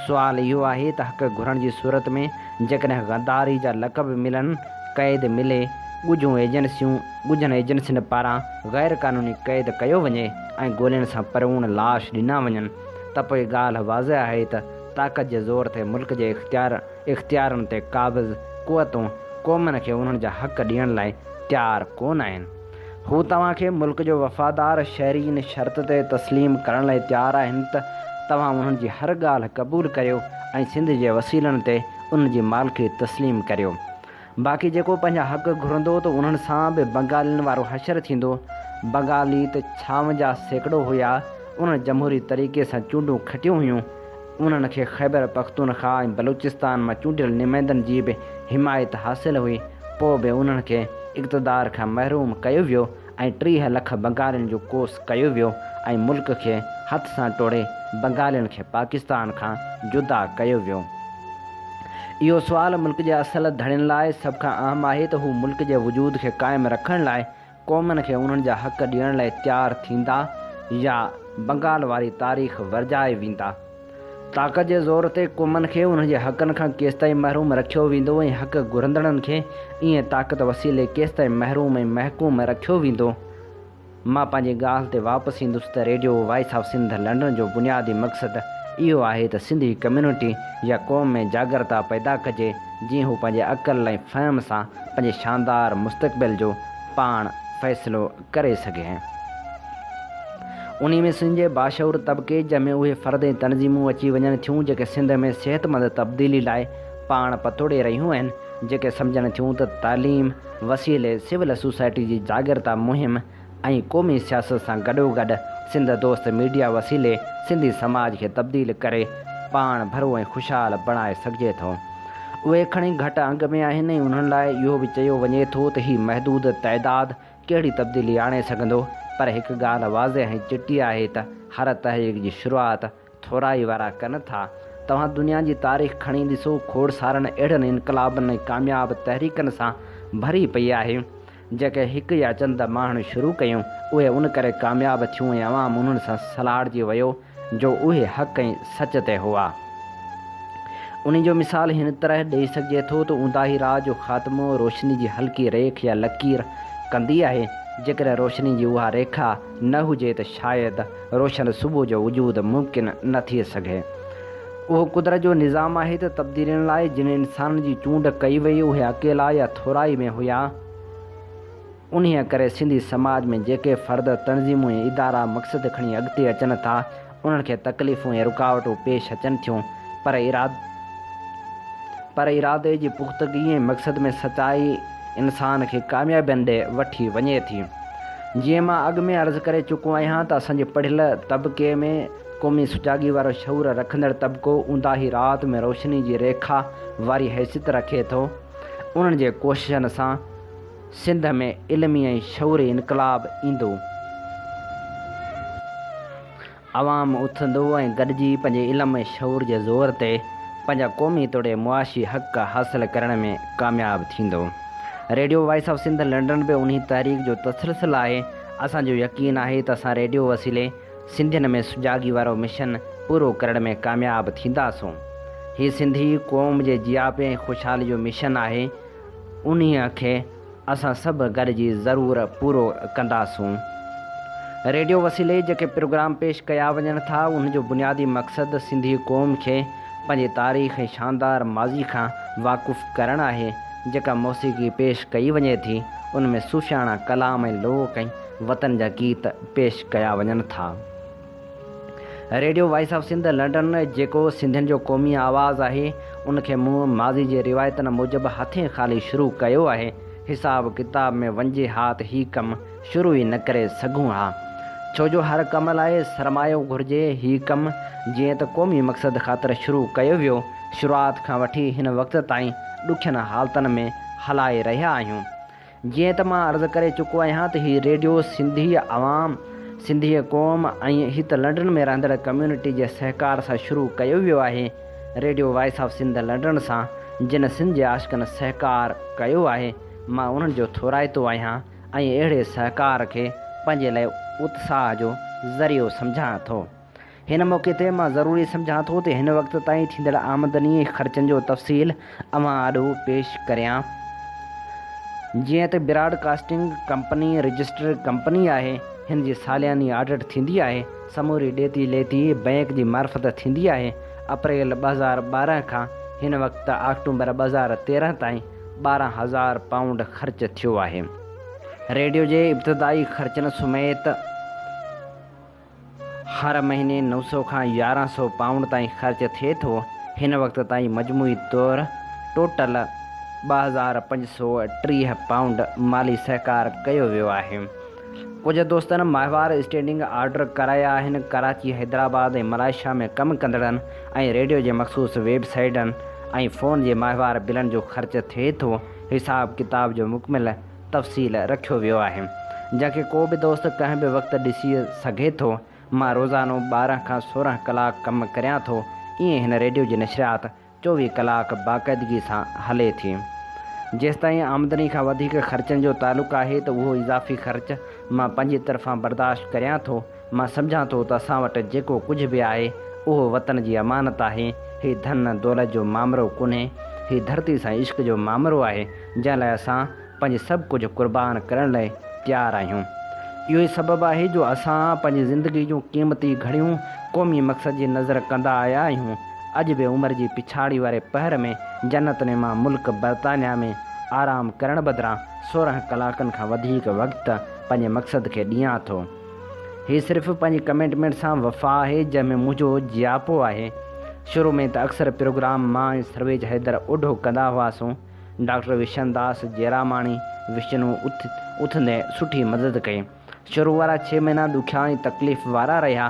سوال اهو آهي ته حق گهرڻ جي صورت ۾ جيڪڏهن غداري جا لقب ملن، قيد ملي، ڳجهون ايجنسيون، ڳجهن ايجنسين پاران غير قانوني قيد ڪيو وڃي ۽ گولين سان پروڻ لاش ڏنا وڃن ته پوء ڳالهه واضح آهي ته طاقت جي زور تي ملڪ جي اختيار اختيارن تي قابض قوتون قومن کي انهن جا حق ڏيڻ لاء تيار ڪونه آهن. هو توهان کي ملڪ جو وفادار شهري ان شرط تي تسليم ڪرڻ لاء تيار آهن ته توهان انهن جي هر ڳالهه قبول ڪريو ۽ سنڌ جي وسيلن تي انهن جي مالڪي تسليم ڪريو. باقي جيڪو پنهنجا حق گهرندو ته انهن سان به بنگالين وارو حشر ٿيندو. بنگالي ته ڇاونجاهه سيڪڙو هيا، انهن جمهوري طريقي سان چونڊون کٽيون هيون ۽ انهن کي خيبر پختونخوا ۽ بلوچستان مان چونڊيل نمائندن جي به حمايت حاصل هئي، پوء به انهن کي اقتدار کان محروم ڪيو ويو ۽ ٽيهه لک بنگالين جو ڪوس ڪيو ويو ۽ ملڪ کي هٿ سان ٽوڙي بنگالين کي پاڪستان کان جدا ڪيو ويو. اهو سوال ملڪ جي اصل ڌڻين لاء سڀ کان اهم آهي ته هو ملڪ جي وجود کي قائم رکڻ لاء قومن کي انهن جا حق ڏيڻ لاء تيار ٿيندا يا بنگال واري تاريخ ورجائي ويندا. طاقت جي زور تي قومن کي انهن جي حقن کان ڪيستائين محروم رکيو ويندو ۽ حق گهرندڙن کي ايئن طاقت وسيلي ڪيستائين محروم ۽ محڪوم رکيو ويندو؟ مان پنهنجي ڳالهه تي واپس ايندس ته radio voice of Sindh London جو بنيادي مقصد اهو آهي ته سنڌي ڪميونٽي يا قوم ۾ جاڳرتا پيدا ڪجي، جيئن هو پنهنجي عقل ۽ فهم سان پنهنجي شاندار مستقبل جو پاڻ فيصلو ڪري سگهي ۽ انهي ۾ سنڌ جي باشعور طبقي جنهن ۾ اهي فرد ۽ تنظيمون اچي وڃن ٿيون جيڪي سنڌ ۾ صحتمند تبديلي لاء پاڻ پتوڙي رهيون آهن جيڪي سمجهن ٿيون ته تعليم وسيلي سول سوسائٽي جي جاڳرتا مهم ۽ قومي سياست سان گڏوگڏ سنڌ دوست ميڊيا وسيلي سنڌي سماج کي تبديل ڪري پاڻ ڀرو ۽ خوشحال بڻائي سگهجي ٿو. اهي کڻي گهٽ انگ ۾ آهن ۽ انهن لاء اهو به چيو وڃي ٿو ته هي محدود تعداد ڪهڙي تبديلي آڻي سگهندو پر هڪ ڳالهه واضح ۽ چٽي آهي ته هر تحريڪ جي شروعات ٿورا ئي وارا ڪن ٿا. توهان دنيا جي تاريخ کڻي ڏسو، کوڙ سارن اهڙن انقلابن ۽ ڪامياب تحريڪن سان ڀري پئي آهي، جيڪي هڪ يا چند ماڻهن شروع ڪيون، اهي ان ڪري ڪامياب ٿيون ۽ عوام انهن سان سلهاڙجي ويو جو اهي حق ۽ سچ تي هئا. انهي جو مثال هن طرح ڏئي سگهجي ٿو ته اونداهي راء جو خاتمو روشني جي هلڪي ريک يا لڪير ڪندي آهي، جيڪڏهن روشني جي اها ريکا نه هجي ته شايد، روشن صبح جو وجود ممڪن نه ٿئي سگهي. اهو قدرت جو نظام آهي ته تبديلين لاء جن انسانن جي چونڊ ڪئي وئي اهي اڪيلا يا ٿورائي ۾ هيا. انهيء ڪري سنڌي سماج ۾ جيڪي فرد، تنظيمون ۽ ادارا مقصد کڻي اڳتي اچن ٿا انهن کي تڪليفون ۽ رڪاوٽون پيش اچن ٿيون پر پر ارادي جي پختگي ۽ مقصد ۾ سچائي، انسان کي ڪاميابين ڏي وٺي وڃي ٿي. جيئن مان اڳ ۾ عرض ڪري چڪو آهيان ته اسان جي پڙهيل طبقي ۾ قومي سجاڳي وارو شعور رکندڙ طبقو اونداهي رات ۾ روشني جي ريکا واري حيثيت رکي ٿو. انهن جي ڪوششن سان سنڌ ۾ علمي ۽ شعوري انقلاب ايندو. عوام اٿندو ۽ گڏجي پنهنجي علم ۽ شعور جي زور تي پنهنجا قومي توڙي معاشي حق حاصل ڪرڻ ۾ ڪامياب ٿيندو. Radio voice of Sindh London به انهي تحريڪ جو تسلسل آهي. اسان جو يقين آهي ته اسان ريڊيو وسيلي سنڌين ۾ سجاڳي وارو مشن پورو ڪرڻ ۾ ڪامياب ٿينداسون. هي سنڌي قوم جي جياپي ۽ خوشحالي جو مشن آهي. انهي کي. اسان سڀ گڏجي ضرور پورو ڪنداسون. ريڊيو وسيلي جيڪي پروگرام پيش ڪيا وڃن ٿا انهن جو بنيادي مقصد سنڌي قوم کي پنهنجي تاريخ ۽ شاندار ماضي کان واقف ڪرڻ آهي، جيڪا موسيقي پيش ڪئي وڃي ٿي ان ۾ صوفياڻا ڪلام ۽ لوڪ ۽ وطن جا گيت پيش ڪيا وڃن ٿا. Radio voice of Sindh London جيڪو سنڌين جو قومي آواز آهي ان کي مون ماضي جي روايتن موجب هٿين خالي شروع ڪيو آهي حساب ڪتاب ۾ وڃجي ها ته هي ڪم شروع ئي نه ڪري سگهون ها ڇو جو هر ڪم لاء سرمايو گهرجي هي ڪم جيئن ته قومي مقصد خاطر شروع ڪيو ويو شروعات کان وٺي هن وقت تائين ڏکين حالتن ۾ هلائي رهيا آهيون جيئن ته مان عرض ڪري چڪو آهيان ته هي ريڊيو سنڌي عوام، سنڌي قوم ۽ هت لنڊن ۾ رهندڙ ڪميونٽي جي سهڪار سان شروع ڪيو ويو آهي. Radio voice of Sindh London سان جن سنڌ جي عاشقن سهڪار ڪيو آهي مان انهن جو ٿورائتو آهيان ۽ اهڙي سهڪار کي پنهنجي لاء اتساهه جو ذريعو سمجهان ٿو. هن موقعي تي مان ضروري سمجهان ٿو ته هن وقت تائين ٿيندڙ آمدني ۽ خرچن جو تفصيل اوهان آڏو پيش ڪريان. جيئن ته broadcasting company registered company آهي، هن جي سالياني آڊٽ ٿيندي آهي، سموري ڏيتي ليتي بئنڪ جي معرفت ٿيندي آهي، اپريل ٻه هزار ٻارهن کان هن وقت آڪٽومبر ٻه هزار تيرهن تائين ٻارهن هزار پائونڊ خرچ ٿيو آهي. ريڊيو جي ابتدائي خرچن سميت هر مهيني نو سؤ کان يارهن سؤ پائونڊ تائين خرچ ٿئي ٿو. هن وقت تائين مجموعي طور ٽوٽل ٻه هزار پنج سؤ ٽيهه پائونڊ مالي سهڪار ڪيو ويو آهي. ڪجهه دوستن ماهوار اسٽينڊنگ آرڊر ڪرايا آهن. ڪراچي، حيدرآباد ۽ ملائيشيا ۾ ڪم ڪندڙن ۽ ريڊيو جي مخصوص ويب سائيٽن ۽ فون جي ماهوار بلن جو خرچ ٿئي ٿو. حساب ڪتاب جو مڪمل تفصيل رکيو ويو آهي جنهن کي ڪو به دوست ڪنهن به وقت ڏسي سگهي ٿو. مان روزانو ٻارهن کان سورهن ڪلاڪ ڪم ڪريان ٿو ائين هن ريڊيو جي نشريات چوويهه ڪلاڪ باقاعدگي سان هلي ٿي. جيستائين آمدني کان وڌيڪ خرچن جو تعلق آهي ته اهو اضافي خرچ مان پنهنجي طرفان برداشت ڪريان ٿو. مان سمجهان ٿو ته اسان وٽ جيڪو ڪجهه به آهي، اهو وطن جي امانت آهي. هي ڌن دولت جو مامرو ڪونهي، هي ڌرتي سان عشق جو مامرو آهي، جنهن لاء اسان پنهنجي سڀ ڪجهه قربان ڪرڻ لاء تيار آهيون. اهو ئي سبب آهي جو اسان پنهنجي زندگي جون قيمتي گهڙيون قومي مقصد جي نذر ڪندا آيا آهيون. اڄ به عمر جي پڇاڙي واري پهر ۾ جنت نما ملڪ برطانيا ۾ آرام ڪرڻ بدران سورهن ڪلاڪن کان وڌيڪ وقت پنهنجي مقصد کي ڏيان ٿو. هي صرف پنهنجي ڪميٽمينٽ سان وفا آهي جنهن ۾ منهنجو جياپو آهي. شروع ۾ ته اڪثر پروگرام مان ۽ سرويچ حيدر اوڍو ڪندا هئاسون. ڊاڪٽر وشن داس جيراماڻي، وشنو، اٿندي سٺي مدد ڪئي. شروع وارا ڇهه مهينا ڏکيا ۽ تڪليف وارا رهيا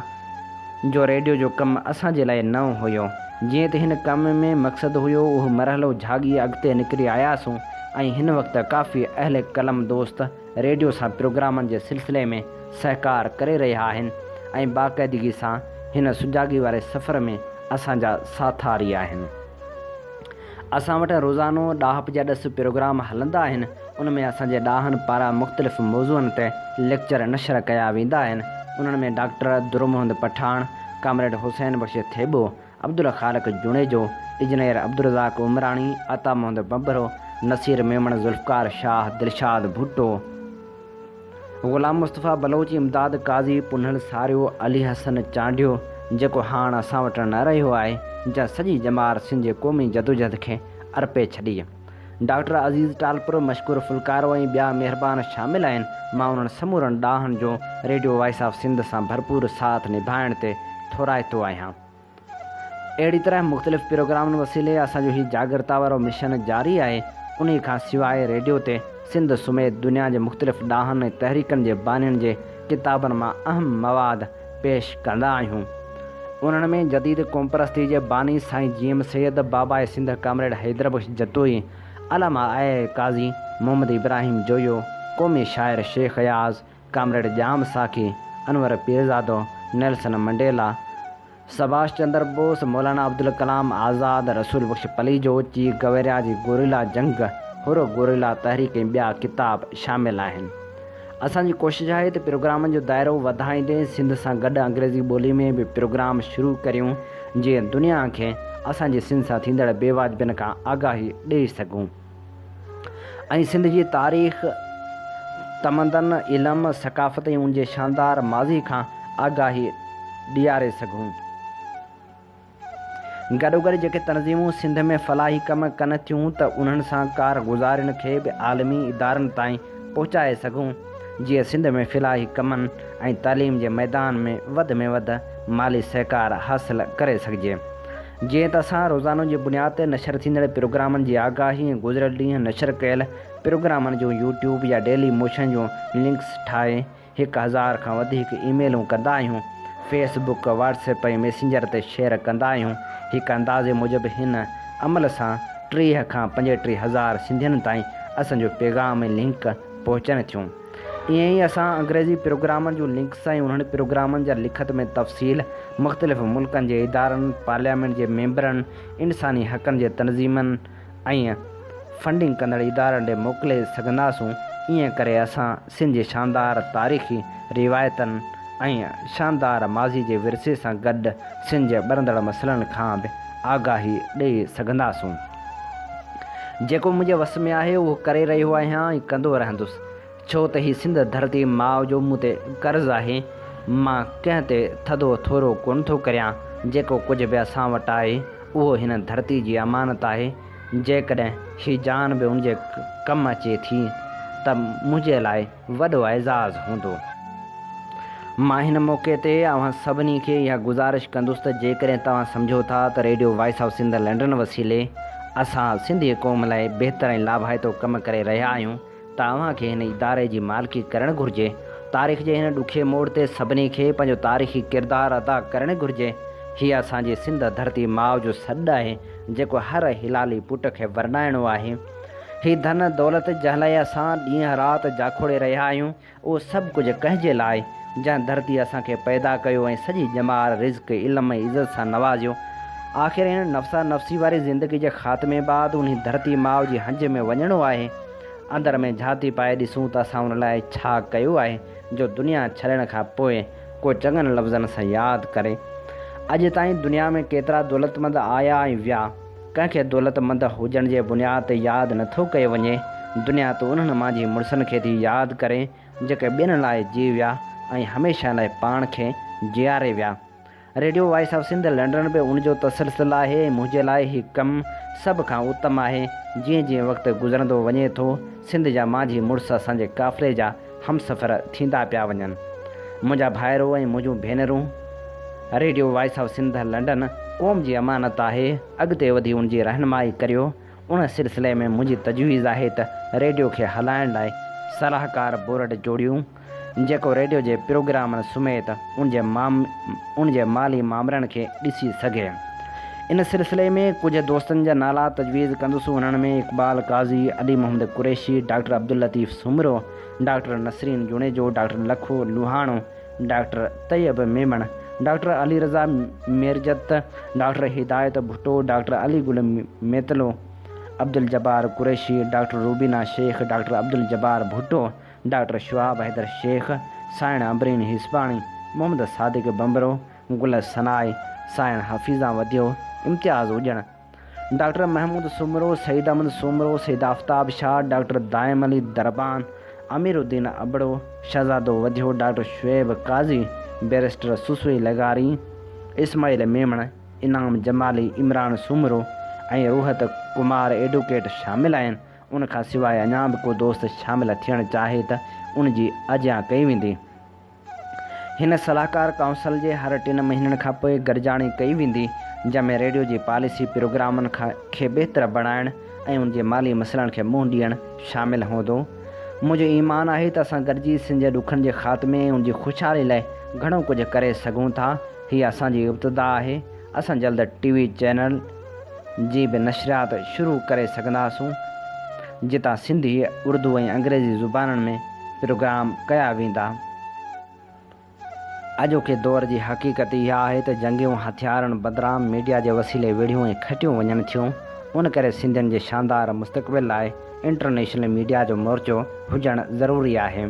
جو ريڊيو جو ڪم اسان جي لاء نئون هيو. جيئن ته هن ڪم ۾ مقصد هيو اهو مرحلو جهاڳي اڳتي نڪري آياسون ۽ هن وقت ڪافي اهل قلم دوست ريڊيو سان پروگرامن جي سلسلي ۾ سهڪار ڪري رهيا آهن ۽ باقاعدگي سان هن سجاڳي واري سفر ۾ اسان جا ساٿاري آهن. اسان وٽ روزانو ڏاهپ جا ڏس پروگرام هلندا آهن، ان ۾ اسان جي ڏاهن پاران مختلف موضوعن تي ليڪچر نشر ڪيا ويندا آهن، انهن ۾ doctor Dur Muhammad Pathan, comrade Hussain Bakhsh Thebo, Abdul Khaliq Junejo, engineer Abdul Razzaq Umrani, Ata Muhammad Bhambhro, Naseer Memon, Zulfiqar Shah, Dilshad Bhutto, Ghulam Mustafa Baloch, Imdad Qazi, Punhal Sario, Ali حسن چانڊيو، جيڪو هاڻ اسان وٽ نه رهيو آهي، جنهن سڄي ڄمار سنڌ جي قومي جدوجهد کي ارپي ڇڏي. ڊاڪٽر عزيز ٽالپر، مشڪور ڦلڪارو ۽ ٻيا مهربان شامل آهن، مان انهن سمورن ڏاهن جو ريڊيو وائس آف سنڌ سان ڀرپور ساٿ نڀائڻ تي ٿورائتو آهيان. اهڙي طرح مختلف پروگرامن وسيلي اسان جو هي جاڳرتا وارو مشن جاري آهي، انهي کان سواء ريڊيو تي سنڌ سميت دنيا جي مختلف ڏاهن ۽ تحريڪن جي بانين جي ڪتابن مان اهم مواد پيش ڪندا آهيون. انهن ۾ جديد قومپرستي جي باني سائين جي ايم سيد، باباء سنڌ ڪامريڊ حيدر بخش جتوئي، علامه آء اي قاضي محمد ابراهيم جويو، قومي شاعر Shaikh Ayaz, comrade Jam Saqi, Anwar Pirzado, Nelson Mandela, سڀاش چندر بوس، مولانا عبدالڪلام آزاد، رسول بخش پليجو، چي گويريا جي گوريلا جنگ، حر گوريلا تحريڪ ۽ ٻيا ڪتاب شامل آهن. اسان جي ڪوشش آهي ته پروگرامن جو دائرو وڌائيندي سنڌ سان گڏ انگريزي ٻولي ۾ به پروگرام شروع ڪريون جيئن دنيا کي اسان جي سنڌ سان ٿيندڙ بي واجبين کان آگاهي ڏئي سگهون ۽ سنڌ جي تاريخ، تمدن، علم، ثقافت ۽ ان جي شاندار ماضي کان آگاهي ڏياري سگهون. گڏوگڏ جيڪي تنظيمون سنڌ ۾ فلاحي ڪم ڪن ٿيون ته انهن سان ڪار گذارين کي به عالمي ادارن تائين پهچائي سگهون جيئن سنڌ ۾ فلاحي ڪمن ۽ تعليم جي ميدان ۾ وڌ ۾ وڌ مالي سهڪار حاصل ڪري سگهجي جيئن ته اسان روزانو جي بنياد تي نشر ٿيندڙ پروگرامن جي آگاهي ۽ گذريل ڏينهن نشر ڪيل پروگرامن جون يوٽيوب يا ڊيلي موشن جون لنڪس ٺاهي هڪ هزار کان وڌيڪ اي ميلون ڪندا آهيون، Facebook, WhatsApp ۽ Messenger تي شيئر ڪندا آهيون، هڪ اندازي موجب هن عمل سان ٽيهه کان پنجٽيهه هزار سنڌين تائين اسان جو پيغام ۽ لنڪ پهچن ٿيون. ائين ئي اسان انگريزي پروگرامن جون لنڪس ۽ انهن پروگرامن جا لکت ۾ تفصيل مختلف ملڪن جي ادارن، پارليامينٽ جي ميمبرن، انساني حقن جي تنظيمن، ۽ فنڊنگ ڪندڙ ادارن ڏي موڪلي سگهنداسون، ائين ڪري اسان سنڌ جي شاندار تاريخي روايتن ۽ شاندار ماضي جي ورثي سان گڏ سنڌ جي ٻرندڙ مسئلن کان به آگاهي ڏئي سگهنداسون. جيڪو منهنجي وس ۾ آهي اهو ڪري رهيو آهيان ۽ ڪندو رهندس. ڇو ته هي سنڌ ڌرتي ماء جو مون تي قرض آهي. مان ڪنهن تي ٿڌو ٿورو ڪونه ٿو ڪريان. جيڪو ڪجهه به اسان وٽ آهي، اهو هن ڌرتي جي امانت آهي. جيڪڏهن هي جان به ان جي ڪم اچي ٿي ته منهنجي لاء وڏو اعزاز هوندو. مان هن موقعي تي اوهان سڀني کي اها گذارش ڪندس ته جيڪڏهن توهان سمجهو ٿا ته radio voice of Sindh London وسيلي اسان سنڌي قوم لاء بهتر ۽ لاڀائتو ڪم ڪري رهيا آهيون، توهان کي هن اداري جي مالڪي ڪرڻ گهرجي. تاريخ جي هن ڏکي موڙ تي سڀني کي پنهنجو تاريخي ڪردار ادا ڪرڻ گهرجي. هيء اسان جي سنڌ ڌرتي ماء جو سڏ آهي، جيڪو هر حلالي پٽ کي ورنائڻو آهي. هي ڌن دولت جنهن لاء اسان ڏينهن رات جاکوڙي رهيا آهيون، اهو سڀ ڪجهه ڪنهن جي لاء، جنهن ڌرتيء اسان کي پيدا ڪيو ۽ سڄي ڄمار، رزق، علم ۽ عزت سان نوازيو. آخر هن نفسا نفسي واري زندگي جي خاتمي بعد انهي ڌرتي ماء جي هنج ۾ وڃڻو آهي. اندر ۾ جهاتي پائي ڏسون ته اسان ان لاء ڇا ڪيو آهي جو دنيا ڇڏڻ کان پوء ڪو چڱن لفظن سان ياد ڪري. اڄ تائين دنيا ۾ ڪيترا دولتمند آيا ۽ ويا. ڪنهن کي دولتمند هجڻ جي بنياد تي ياد نه ٿو ڪيو وڃي، دنيا تون انهن مان جي مڙسن کي ٿي ياد ڪرين، جيڪي ٻين لاء جي ويا ۽ هميشه لاء پاڻ کي جياري ويا. Radio voice of Sindh London به ان جو تسلسل آهي ۽ منهنجي لاء هي ڪم سڀ کان اتم آهي. جيئن جيئن وقت گذرندو وڃي ٿو، سنڌ جا مانجهي مڙس اسان جي قافلي جا همسفر ٿيندا پيا وڃن. منهنجا ڀائرو ۽ منهنجون ڀينرون، radio voice of Sindh London قوم جي امانت آهي، اڳتي وڌي ان جي رهنمائي ڪريو. ان سلسلي ۾ منهنجي تجويز آهي ته ريڊيو کي هلائڻ لاء صلاحڪار بورڊ جوڙيون، جيڪو ريڊيو جي پروگرامن سميت، ان جي ان جي مالي مامرن کي ڏسي سگهي. ان سلسلي ۾ ڪجهه دوستن جا نالا تجويز ڪندس انهن ۾ Iqbal Qazi, Ali Muhammad Qureshi, doctor Abdul Latif Soomro, doctor Nasreen Junejo, doctor Lakho Lohano, doctor Tayyab Memon, doctor Ali Raza Mirjat, doctor Hidayat Bhutto, doctor Ali Gul Metlo, Abdul Jabbar Qureshi, doctor Rubina Shaikh, doctor Abdul Jabbar Bhutto, doctor Shahab Haider Shaikh, سائڻ عنبرين هيسباڻي، محمد صادق ڀنڀرو، گل ثناء، سائڻ Hafeezan Wadhio, Imtiaz Ujjan, doctor Mehmood Soomro, Saeed Ahmed Soomro, Syed Aftab Shah, doctor Daim Ali Darban, Amir Uddin Abro, Shahzado Wadhio, doctor Shoaib Qazi, barrister Sassui لغاري، اسماعيل ميمڻ، انعام جمالي، عمران سومرو ۽ روحت ڪمار ايڊوڪيٽ شامل آهن. ان کان سواء اڃا به ڪو دوست شامل ٿيڻ چاهي ته ان جي اجيان ڪئي ويندي. هن صلاحڪار ڪائونسل جي هر ٽن مهينن کان پوء گڏجاڻي ڪئي ويندي، جنهن ۾ ريڊيو جي پاليسي پروگرامن کي بهتر بڻائڻ ۽ ان جي مالي مسئلن کي منهن ڏيڻ شامل هوندو. منهنجو ايمان آهي ته اسان گڏجي سنڌ جي ڏکن جي خاتمي ۽ ان جي خوشحالي لاء گهڻو ڪجهه ڪري سگهون ٿا. هيء اسان جي ابتدا آهي. اسان جلد ٽي وي چينل. جي به نشريات شروع ڪري سگهنداسون، جتان سنڌي، اردو ۽ انگريزي زبانن ۾ پروگرام ڪيا ويندا. اڄوڪي دور جي حقيقت اها آهي ته جنگيون هٿيارن بدران ميڊيا جي وسيلي وڙهيون ۽ کٽيون وڃن ٿيون، ان ڪري سنڌين جي شاندار مستقبل لاء انٽرنيشنل ميڊيا جو مورچو هجڻ ضروري آهي.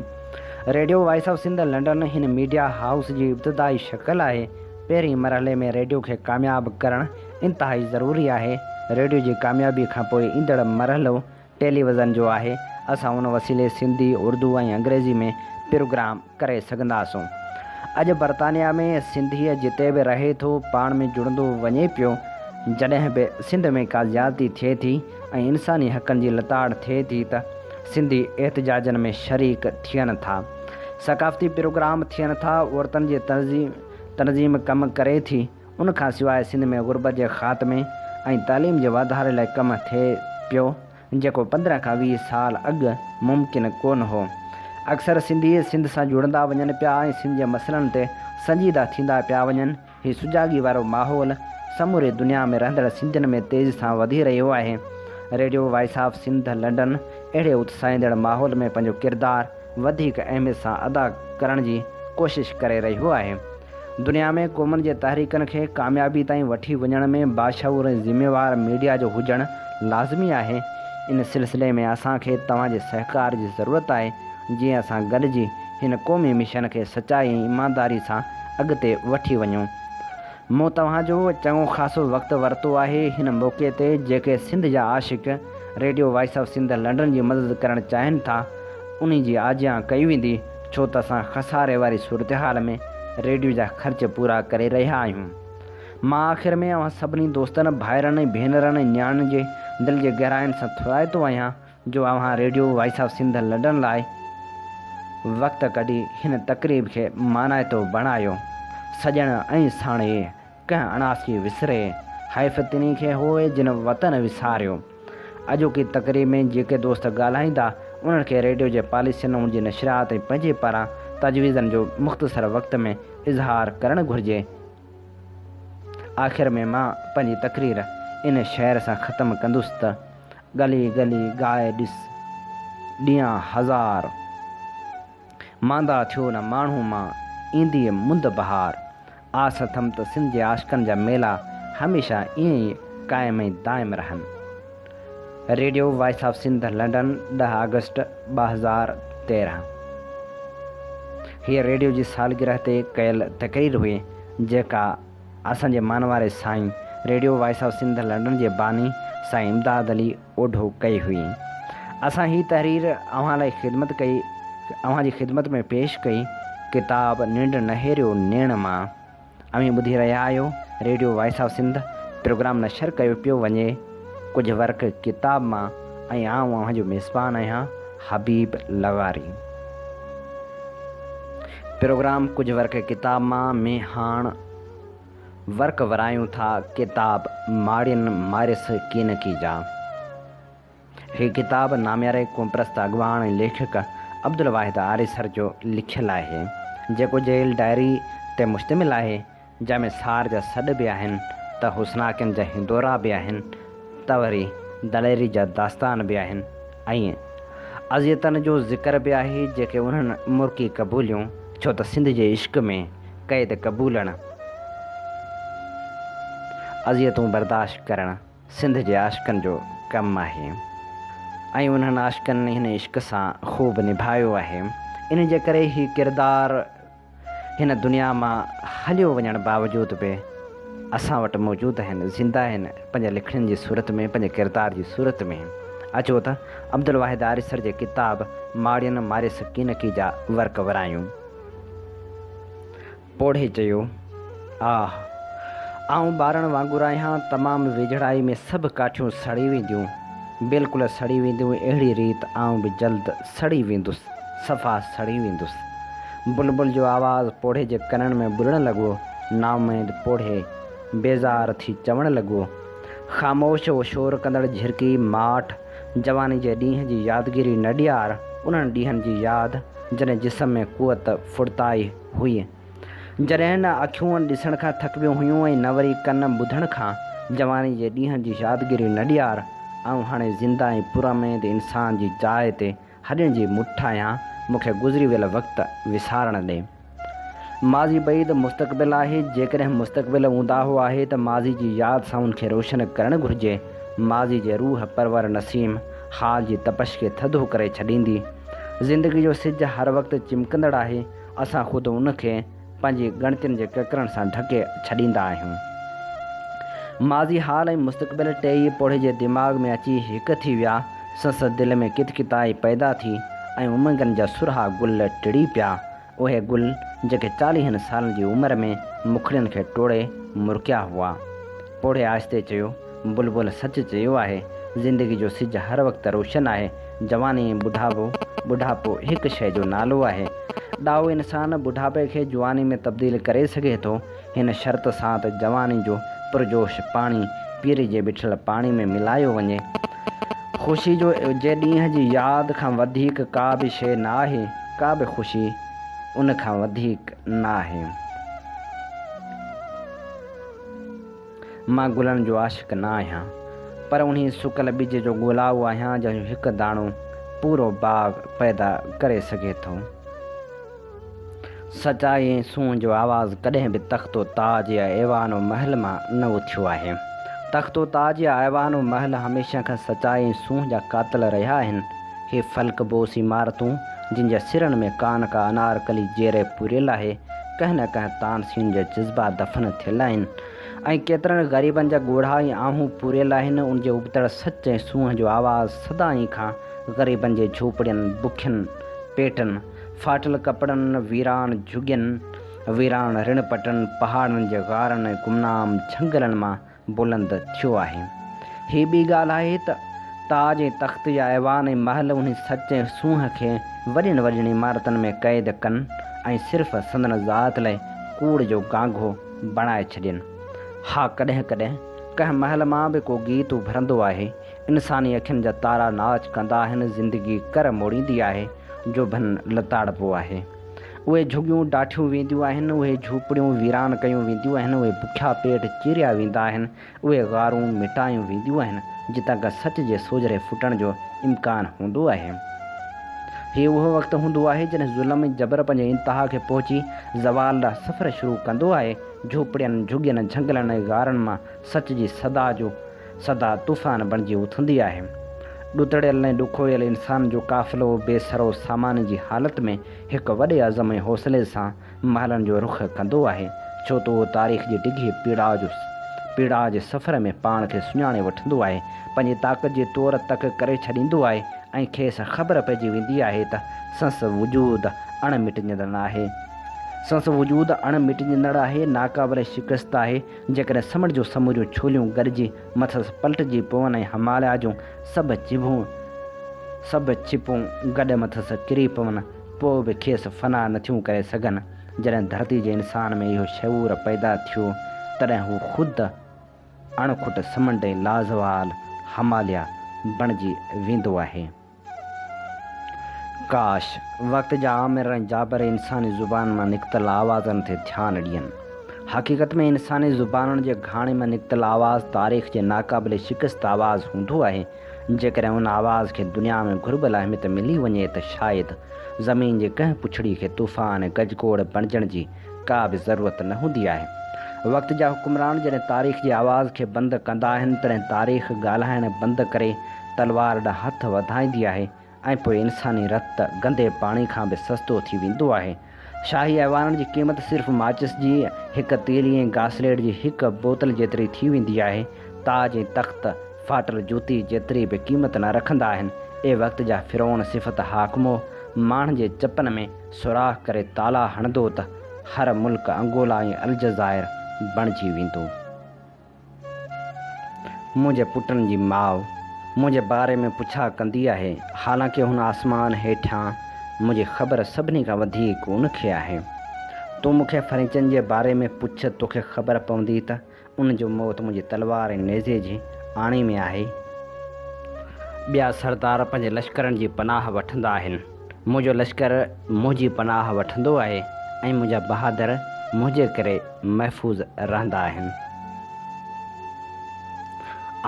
Radio voice of Sindh London هن ميڊيا هائوس جي ابتدائي شڪل آهي، پهرين مرحلي ۾ ريڊيو کي ڪامياب ڪرڻ انتهائي ضروري آهي، ريڊيو جي ڪاميابي کان پوء ايندڙ مرحلو ٽيلي وزن جو آهي، اسان ان وسيلي سنڌي، اردو ۽ انگريزي ۾ پروگرام ڪري سگهنداسون. اڄ برطانيا ۾ سنڌيء جتي به رهي ٿو پاڻ ۾ جڙندو وڃي پيو، جڏهن به سنڌ ۾ ڪا زيادتي ٿئي ٿي ۽ انساني حقن جي لتاڙ ٿئي ٿي ته سنڌي احتجاجن ۾ شريڪ ٿين ٿا، ثقافتي پروگرام ٿين ٿا، عورتن جي تنظيم. تنظيم ڪم ڪري ٿي، ان کان سواء سنڌ ۾ غربت جي خاتمي ۽ تعليم جي واڌاري لاء ڪم ٿئي پيو، جيڪو پندرهن کان ويهه سال اڳ ممڪن ڪونه هو. اڪثر سنڌي سنڌ سان جڙندا وڃن پيا ۽ سنڌ جي مسئلن تي سنجيده ٿيندا پيا وڃن، هي سجاڳي وارو ماحول سموري دنيا ۾ رهندڙ سنڌين ۾ تيزي سان وڌي رهيو آهي. Radio voice of Sindh London اهڙي اتساهيندڙ ماحول ۾ پنهنجو ڪردار وڌيڪ اهميت سان ادا ڪرڻ جي ڪوشش ڪري رهيو آهي. دنيا ۾ قومن جي تحريڪن کي ڪاميابي تائين وٺي وڃڻ ۾ باشعور ۽ ذميوار ميڊيا جو هجڻ لازمي آهي. ان سلسلي ۾ اسان کي توهان جي سهڪار جي ضرورت آهي، جيئن اسان گڏجي هن قومي مشن کي سچائي ۽ ايمانداري سان اڳتي وٺي وڃون. مون توهان جو چڱو خاصو وقت ورتو آهي هن موقعي تي جيڪي سنڌ جا عاشق radio voice of Sindh London جي مدد ڪرڻ چاهين ٿا انهي جي آجيان ڪئي ويندي ڇو ته اسان خساري واري صورتحال ۾ ريڊيو جا خرچ پورا ڪري رهيا آهيون مان آخر ۾ اوهان سڀني دوستن ڀائرن ۽ ڀينرن ۽ نياڻين جي دل جي گهراين سان ٿورائتو آهيان جو اوهان radio voice of Sindh London لاء وقت ڪڍي هن تقريب کي مانائتو بڻايو. سڄڻ ۽ ساڻيهي ڪنهن اڻاسي وسري حيف تنهن کي هوء جن وطن وساريو. اڄوڪي تقريب ۾ جيڪي دوست ڳالهائيندا انهن کي ريڊيو جي پاليسين ان جي نشريات ۽ پنهنجي پاران تجويزن جو مختصر وقت ۾ اظهار ڪرڻ گهرجي. آخر ۾ مان پنهنجي تقرير ان شعر سان ختم ڪندس ته، ڳلي ڳلي ڳائي ڏس ڏينهن هزار. ماندا ٿيو نه ماڻهو مان اينديء مند بهار. آس اٿم ته سنڌ جي عاشقن جا ميلا هميشه ائين ئي قائم ۽ دائم رهن. Radio voice of Sindh London ڏهه آگسٽ ٻه هزار تيرهن هيء ريڊيو جي سالگرهه تي ڪيل تقرير هئي جيڪا اسان جي مان واري Sain radio voice of Sindh London جي باني سائين امداد علي اوڍو ڪئي هئي. اسان هي تحرير اوهان لاء خدمت ڪئي اوهان جي خدمت ۾ پيش ڪئي ڪتاب ننڊ نهيريو نيڻ مان اوهين ٻڌي رهيا آهيو radio voice of Sindh programme نشر ڪيو پيو وڃي. ڪجهه ورق ڪتاب مان ۽ آئون اوهان جو ميزبان آهيان حبيب لغاري. پروگرام ڪجهه ورق ڪتاب مان ۾ هاڻ ورق ورايون ٿا ڪتاب ماڙين مارس ڪينڪي جا. هي ڪتاب نامياري قومپرست اڳواڻ ۽ ليکڪ عبدالواحد آريسر جو لکيل آهي، جيڪو جيل ڊائري تي مشتمل آهي، جنهن ۾ سار جا سڏ به آهن ته حسناڪين جا هندورا به آهن ته وري دليري جا داستان به آهن ۽ اذيتن جو ذڪر به آهي جيڪي انهن مرڪي قبوليون ڇو ته سنڌ جي عشق ۾ قيد قبولڻ اذيتون برداشت ڪرڻ سنڌ جي عاشقن جو ڪم آهي ۽ انهن عاشقن هن عشق سان خوب نڀايو آهي انهي جي ڪري هي ڪردار هن دنيا مان هليو وڃڻ باوجود به اسان وٽ موجود آهن، زنده آهن، پنهنجي لکڻين جي صورت ۾، پنهنجي ڪردار جي صورت ۾. اچو ته عبدالواحد آريسر جي ڪتاب ماڙين ماري سڪينڪي جا ورق ورايون. پوڙهي چيو. آه! آئون ٻارڻ وانگر آهيان، تمام ويجهڙائي ۾ سڀ ڪاٺيون سڙي وينديون، بلڪل سڙي وينديون، اهڙي ريت آئون به جلد سڙي ويندس، صفا سڙي ويندس. بلبل جو آواز پوڙهي جي ڪنن ۾ ٻڏڻ لڳو، نااميد پوڙهي بيزار ٿي چوڻ لڳو، خاموش اهو شور ڪندڙ جهرڪي ماٺ، جواني جي ڏينهن جي يادگيري نه ڏيار، انهن ڏينهن جي ياد جڏهن جسم ۾ قوت ڦڙتائي هئي. جڏهن نه اکيون ڏسڻ کان ٿڪبيون هيون ۽ نه وري ڪن ٻڌڻ کان. جواني جي ڏينهن جي يادگيري نه ڏيار، آئون هاڻي زنده ۽ پراميد انسان جي جاء تي هڏين جي مٺ آهيان، مون کي گذري ويل وقت وسارڻ ڏي. ماضي بعيد مستقبل آهي، جيڪڏهن مستقبل اونداهو آهي ته ماضي جي ياد سان ان کي روشن ڪرڻ گهرجي، ماضي جي روح پرور نسيم، حال جي تپش کي ٿڌو ڪري ڇڏيندي. زندگي جو سج هر وقت چمڪندڙ آهي، اسان خود ان کي پنهنجي ڳڻتين جي ڪڪرن سان ڍڪي ڇڏيندا آهيون. ماضي، حال ۽ مستقبل ٽي ئي پوڙهي جي دماغ ۾ اچي هڪ ٿي ويا. سنس دل ۾ ڪت ڪتائي پيدا ٿي ۽ امنگن جا سرها گل ٽڙي پيا. اهي گل جيڪي چاليهن سالن جي عمر ۾ مکڙين کي ٽوڙي مرڪيا هئا. پوڙهي آهستي چيو. بلبل سچ چيو آهي، زندگي جو سج هر وقت روشن آهي. جواني ۽ ٻڍاپو، ٻڍاپو هڪ شيء جو نالو آهي. ڏاهو انسان ٻڍاپي کي جواني ۾ تبديل ڪري سگهي ٿو، هن شرط سان ته جواني جو پرجوش پاڻي پيري جي بيٺل پاڻي ۾ ملايو وڃي. خوشي جو جي ڏينهن جي ياد کان وڌيڪ ڪا به شيء نه آهي، ڪا به خوشي ان کان وڌيڪ نه آهي. مان گلن جو عاشق نه آهيان، پر انهي سڪل ٻج جو ڳولاهو آهيان جنهن جو هڪ داڻو پورو باغ پيدا ڪري سگهي ٿو. سچائي ۽ سونهن جو آواز ڪڏهن به تخت و تاج يا ايوان و محل مان نه اٿيو آهي. تخت و تاج يا ايوان و محل هميشه کان سچائي ۽ سونهن جا قاتل رهيا آهن. اهي فلڪ بوس عمارتون، جن جا سرن ۾ ڪان ڪا انارڪلي جيري پوريل آهي، ڪنهن نه ڪنهن تانسين جا جذبا دفن ٿيل آهن ۽ ڪيترن غريبن جا ڳوڙها ۽ آهون پوريل آهن، ان جي ابتڙ سچ ۽ سونهن جو آواز سدائين کان غريبن جي جهوپڙين، بکين پيٽن، ڦاٽل ڪپڙن، ويران جهڳين، ويران رڻ پٽن، پهاڙن جي غارن ۽ گمنام جهنگلن مان بلند ٿيو آهي. هي ٻي ڳالهه آهي ته تاج ۽ تخت جا ايوان ۽ محل انهي سچ ۽ سونهن کي وڏين وڏين عمارتن ۾ قيد ڪن ۽ صرف سندن ذات لاء ڪوڙ جو گانگهو بڻائي ڇڏين. ها ڪڏهن ڪڏهن ڪنهن محل مان به ڪو گيت اڀرندو آهي، انساني اکين جا تارا ناچ ڪندا آهن، زندگي ڪر موڙيندي آهي، جوڀن لتاڙبو آهي. اهي جهڳيون ڊاٺيون وينديون آهن، اهي جهوپڙيون ويران ڪيون وينديون آهن، اهي بکيا پيٽ چيريا ويندا آهن، اهي غارون مٽايون وينديون آهن، جتان ڪا سچ جي سوجهري ڦٽڻ جو امڪان هوندو آهي. هي اهو وقت هوندو آهي، جڏهن ظلم ۽ جبر پنهنجي انتها کي پهچي زوال ڏانهن سفر شروع ڪندو آهي، جهوپڙين، جهڳين، جهنگلن ۽ غارن مان سچ جي صدا جو سدا طوفان بڻجي اٿندي آهي. ڏتڙيل ۽ ڏکويل انسان جو قافلو بي سرو سامان جي حالت ۾ هڪ وڏي عزم ۽ حوصلي سان محلن جو رخ ڪندو آهي، ڇو ته اهو تاريخ جي ڊگهي پيڙاء جو پيڙاء جي سفر ۾ پاڻ کي سڃاڻي وٺندو آهي، پنهنجي طاقت جي طور تڪ ڪري ڇڏيندو آهي ۽ کيس خبر پئجي ويندي آهي ته سنس وجود اڻ مٽجندڙ آهي. سنس وجود اڻ مٽجندڙ آهي، ناقابل شڪست آهي. جيڪڏهن سمنڊ جون سموريون ڇوليون ڳڙجي مٿس پلٽجي پون ۽ هماليا جون سڀ چڀون سڀ ڇپون گڏ مٿس ڪري پون، پوء به کيس فنا نٿيون ڪري سگهن. جڏهن ڌرتي جي انسان ۾ اهو شعور پيدا ٿيو، تڏهن هو خود اڻ کٽ سمنڊ ۽ لازوال هماليا بڻجي ويندو آهي. ڪاش! وقت جا آمر ۽ جابر انساني زبان مان نڪتل آوازن تي ڌيان ڏين. حقيقت ۾ انساني زبانن جي گهاڻي مان نڪتل آواز تاريخ جي ناقابل شڪست آواز هوندو آهي. جيڪڏهن ان آواز کي دنيا ۾ گهربل اهميت ملي وڃي ته شايد زمين جي ڪنهن پڇڙي کي طوفان ۽ گجگوڙ بڻجڻ جي ڪا به ضرورت نه هوندي آهي. وقت جا حڪمران جڏهن تاريخ جي آواز کي بند ڪندا آهن تڏهن تاريخ ڳالهائڻ بند ڪري تلوار ڏانهن هٿ وڌائيندي آهي ۽ پوء انساني رت گندي پاڻي کان به سستو ٿي ويندو آهي. شاهي ايوانن جي قيمت صرف ماچس جي هڪ تيلي ۽ گاسليٽ جي هڪ بوتل جيتري ٿي ويندي آهي. تاج ۽ تخت ڦاٽل جوتي جيتري به قيمت نه رکندا آهن. اي وقت جا فرعون صفت حاڪمو! ماڻهن جي چپن ۾. سوراخ ڪري تالا هڻندو ته هر ملڪ انگولا ۽ الجزائر بڻجي ويندو. منهنجي پٽن جي ماء منهنجي باري ۾ پڇا ڪندي آهي، حالانڪه هن آسمان هيٺيان منهنجي خبر سڀني کان وڌيڪ ان کي آهي. تون مون کي فرينچن جي باري ۾ پڇ، توکي خبر پوندي ته ان جو موت منهنجي تلوار ۽ نيزي جي آڻي ۾ آهي. ٻيا سردار پنهنجي لشڪرن جي پناهه وٺندا آهن. منهنجو لشڪر منهنجي پناهه وٺندو آهي ۽ منهنجا بهادر منهنجي ڪري محفوظ رهندا آهن.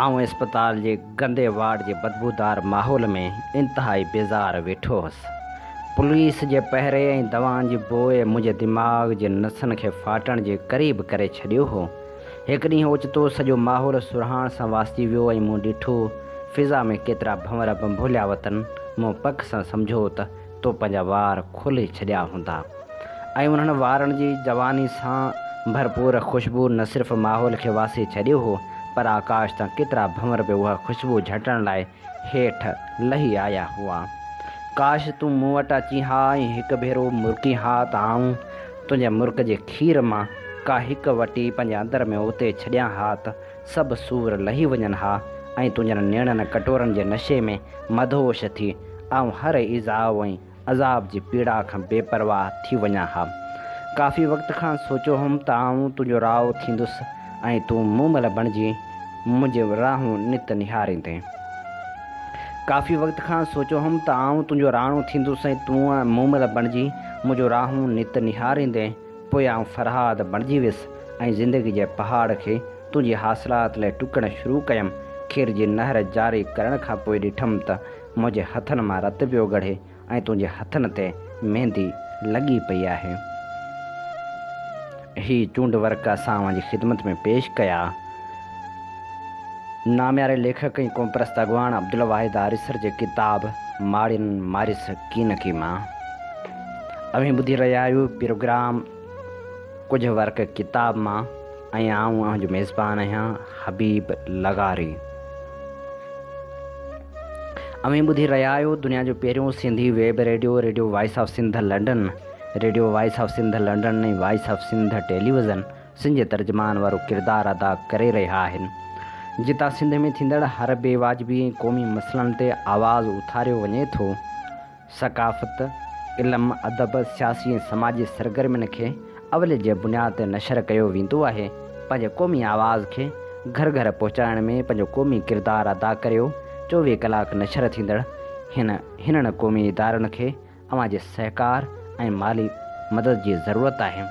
آئون اسپتال جي گندي وارڊ جي بدبودار ماحول ۾ انتهائي بيزار ويٺو هوس. پوليس جي پهري ۽ دوائن جي بوء منهنجي دماغ جي نسن کي ڦاٽڻ جي قريب ڪري ڇڏيو هو. هڪ ڏينهن اوچتو سڄو ماحول سرهاڻ سان واسجي ويو ۽ مون ڏٺو فضا ۾ ڪيترا ڀنور ڀنڀوليا وتن. مون پڪ سان سمجهو ته تو پنهنجا وار کولي ڇڏيا هوندا ۽ انهن وارن جي جواني سان ڀرپور خوشبو نه صرف ماحول کي واسي ڇڏيو هو پر آڪاش تان ڪيترا ڀنور به اها خوشبو جهٽڻ لاء هيٺ لهي آيا هئا. ڪاش تون مون وٽ اچين ها ۽ هڪ ڀيرو مرڪين ها ته آئون تنهنجي مرڪ جي کير مان ڪا هڪ وٽي پنهنجي اندر ۾ اتي ڇڏيان ها ته سڀ سور لهي وڃن ها ۽ تنهنجن نيڻن ڪٽورن جي نشي ۾ مدهوش ٿي آئون هر ايذاء ۽ عذاب جي پيڙا کان بي پرواهه ٿي وڃان ها. ڪافي وقت کان سوچيو هوم ته آئون تنهنجو راء ٿيندس ۽ تون مون مل بڻجي منهنجي راهون نت نهاريندين. ڪافي وقت کان سوچيو هوم ته آئون تنهنجو راڻو ٿيندس ۽ تون مون مل بڻجي منهنجو راهون نت نهاريندين. پوء آئون فرهاد بڻجي ويس ۽ زندگي جي پهاڙ کي تنهنجي حاصلات لاء ٽڪڻ شروع ڪيم. کير جي نهر جاري ڪرڻ کان پوء ڏٺم ته منهنجي هٿن مان رت پيو ڳڙي ۽ تنهنجي هٿن تي ميندي لڳي پئي آهي. هي چونڊ ورق اسان اوهان جي خدمت ۾ پيش ڪيا. نامياري ليکڪ ۽ قومپرست اڳواڻ عبدالواحد آريسر جي ڪتاب ماڙين ماريس ڪين ڪي مان اوهين ٻڌي رهيا آهيو پروگرام. ڪجهه ورق ڪتاب مان ۽ آئون اوهان جو ميزبان آهيان حبيب لغاري. اوهين ٻڌي رهيا آهيو دنيا جو پهريون Sindhi web radio radio voice of Sindh London radio voice of Sindh London ۽ voice of Sindh television Sindh جي ترجمان وارو ڪردار ادا ڪري رهيا آهن جتان سنڌ ۾ ٿيندڙ هر بي واجبي ۽ قومي مسئلن تي آواز اٿاريو وڃي ٿو. ثقافت، علم، ادب، سياسي ۽ سماجي سرگرمين کي اولي جي بنياد تي نشر ڪيو ويندو آهي. پنهنجي قومي آواز کي گهر گهر پهچائڻ ۾ پنهنجو قومي ڪردار ادا ڪريو چوويهه ڪلاڪ نشر ٿيندڙ هن هنن قومي ادارن کي اوهان جي سهڪار ۽ مالي مدد جي ضرورت آهي.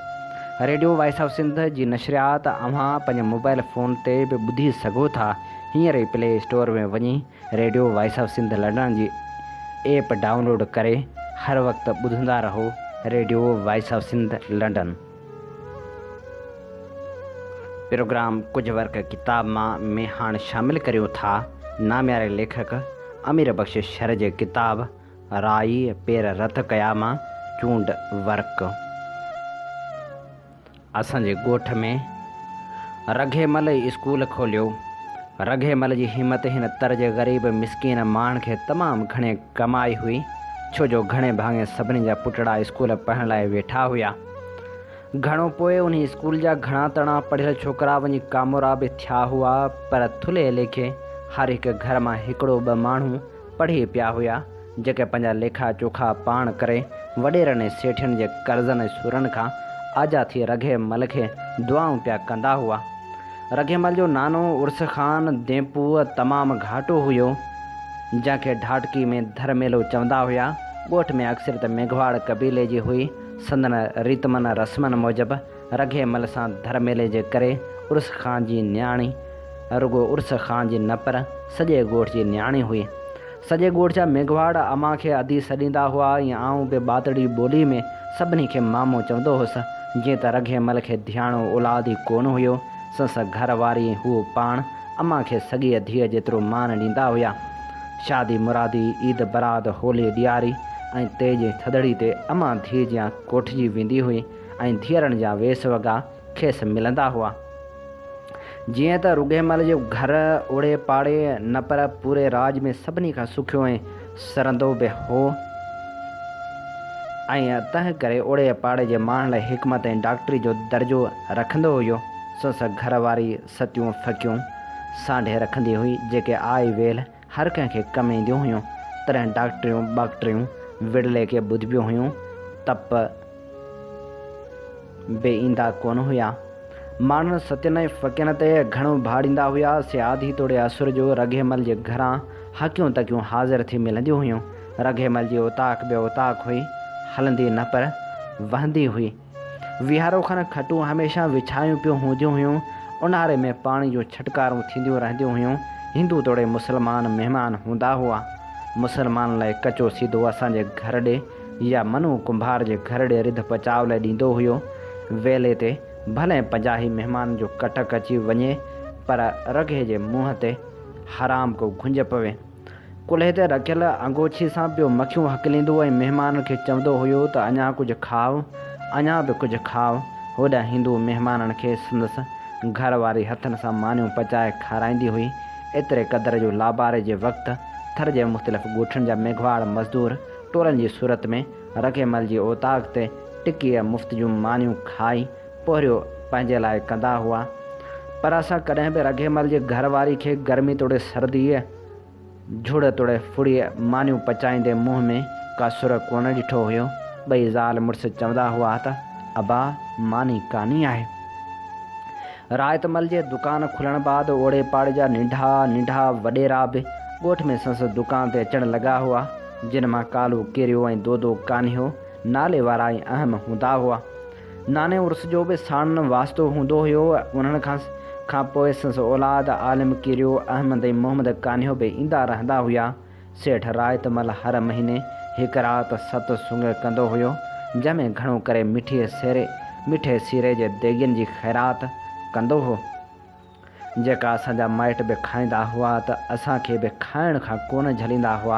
ريڊيو وائس آف سنڌ جي نشريات اوهان پنهنجي موبائل فون تي به ٻڌي سگهو ٿا هينئر ئي پلي اسٽور ۾ وڃي radio voice of Sindh London جي ايپ ڊائون لوڊ ڪري هر وقت ٻڌندا رهو radio voice of Sindh London. Programme ڪجهه ورق ڪتاب مان ۾ هاڻ شامل ڪريون ٿا نامياري ليکڪ امير بخش شر جي ڪتاب رائي پير رت ڪيا مان چونڊ ورق. اسان جي ڳوٺ ۾ رگهي مل ئي اسڪول کوليو. رگهي مل جي همت هن تر جي غريب مسڪين ماڻهن کي تمام گهڻي ڪم آئي هئي، ڇو جو گهڻي ڀاڱي سڀني جا پٽڙا اسڪول پڙهڻ لاء ويٺا هيا. گهڻو پوء انهي اسڪول جا گهڻا تڻا پڙهيل ڇوڪرا وڃي ڪامورا به ٿيا هئا، پر ٿلهي ليکي هر هڪ گهر مان هڪڙو ٻه ماڻهو پڙهي پيا هيا، جيڪي پنهنجا ليکا چوکا پاڻ ڪري، وڏيرن ۽ سيٺين جي قرضن ۽ سورن کان آجا ٿي رگهي مل کي دعائون پيا ڪندا هئا. رگهي مل جو نانو عرس خان دينپوء تمام گهاٽو هيو، جنهن کي ڍاٽڪي ۾ ڌر ميلو چوندا هيا. ڳوٺ ۾ اڪثريت ميگهواڙ قبيلي جي هئي. سندن ريتمن رسمن موجب رگهي مل سان ڌر ميلي جي ڪري عرس خان جي نياڻي رڳو عرس خان جي نه پر سڄي ڳوٺ جي نياڻي هئي. سڄي ڳوٺ جا ميگهواڙ امان کي ادي سڏيندا هئا ۽ آئون به ٻاتڙي ٻولي ۾ سڀني کي مامو چوندو هوس. جيئن ته رگهي مل کي ڌياڻو اولاد ئي ڪونه هيو، سنس گهر واري ۽ هوء پاڻ امان کي سڳيء ڌيء جيترو مان ڏيندا هيا. شادي مرادي، عيد برات، هولي ڏياري ۽ تيج ٿڌڙي تي امان ڌيء جيان ڪوٺجي ويندي هئي. ۽ ڌيئرڻ جا ويس وڳا کيس ملندا هئا. جيئن ته رڳهيمل جو گهر اوڙي پاڙي نه پر پوري راڄ ۾ سڀني کان سکيو ۽ سرندو به هو ۽ تنهن ڪري اوڙي پاڙي جي ماڻهن لاء حڪمت ۽ ڊاڪٽري جو درجو رکندو هيو، سنس گهر واري ستيون ڦڪيون سانڍي رکندي هئي، جيڪي آئي ويلهه هر ڪنهن کي ڪم اينديون هيون، تڏهن ڊاڪٽريون ٻاڪٽريون وڙلي کي ٻڌبيون هيون، تپ به ايندا ڪونه هيا. ماڻهن ستين ۽ ڦڪين تي گهڻو ڀاڙيندا هيا، سي آڌي توڙي اسر جو رگهيمل جي گهران هڪيون تڪيون حاضر ٿي ملنديون هيون. رگهيمل جي اوطاق به اوطاق هئي، هلندي نه پر وهندي هئي. ويهارو کن کٽون هميشه وڇايون پيون هونديون هيون. اونهاري ۾ پاڻي جون ڇٽڪارون ٿينديون رهنديون هيون. هندو توڙي مسلمان مهمان هوندا هئا. مسلمانن لاء ڪچو سيڌو اسان جي گهر ڏي يا منو ڪنڀار جي گهر ڏي رڌ پچاء لاء ڏيندو هيو. ويلي تي ڀلئين پنجاهي مهمانن جو ڪٽڪ اچي وڃي پر رگهي جي منهن تي حرام ڪو گهنج پوي. ڪلهي تي رکيل انگوڇي سان پيو مکيون هڪليندو ۽ مهمانن کي چوندو هيو ته اڃا ڪجهه کائو، اڃا به ڪجهه کائو. هوڏانهن هندو مهمانن کي سندس گهر واري هٿن سان مانيون پچائي کارائيندي هئي. ايتري قدر جو لاباري جي وقت ٿر جي مختلف ڳوٺن جا ميگهواڙ مزدور ٽولن جي صورت ۾ رکيمل جي اوطاق تي ٽڪيء مفت جون مانيون کائي پورهيو پنهنجي لاء ڪندا هئا پر اسان ڪڏهن به رگهي مل جي گهر واري کي گرمي توڙي سرديء، جهڙ توڙي ڦڙيء مانيون پچائيندي منهن ۾ ڪا سر ڪونه ڏٺو هيو. ٻئي زال مڙس چوندا هئا ته ابا ماني ڪاني آهي. رائت مل جي دڪان کلڻ بعد اوڙي پاڙي جا ننڍا ننڍا وڏيرا به ڳوٺ ۾ سنس دڪان تي اچڻ لڳا هئا، جن مان ڪالو ڪيريو ۽ دودو ڪانهيو نالي وارا ئي اهم هوندا هئا. ناني عرس جو به ساڻن واسطو هوندو هيو. انهن کان کان پوء سندس اولاد عالم ڪيريو احمد ۽ محمد ڪانهيو به ايندا رهندا هيا. سيٺ رائت مل هر مهيني هڪ رات ست سڱ ڪندو هيو، جنهن ۾ گهڻو ڪري مٺي سيري، مٺي سيري جي ديڳين جي خيرات ڪندو هو. جيڪا اسان جا مائٽ به کائيندا هئا ته اسان کي به کائڻ کان ڪونه جهليندا هئا.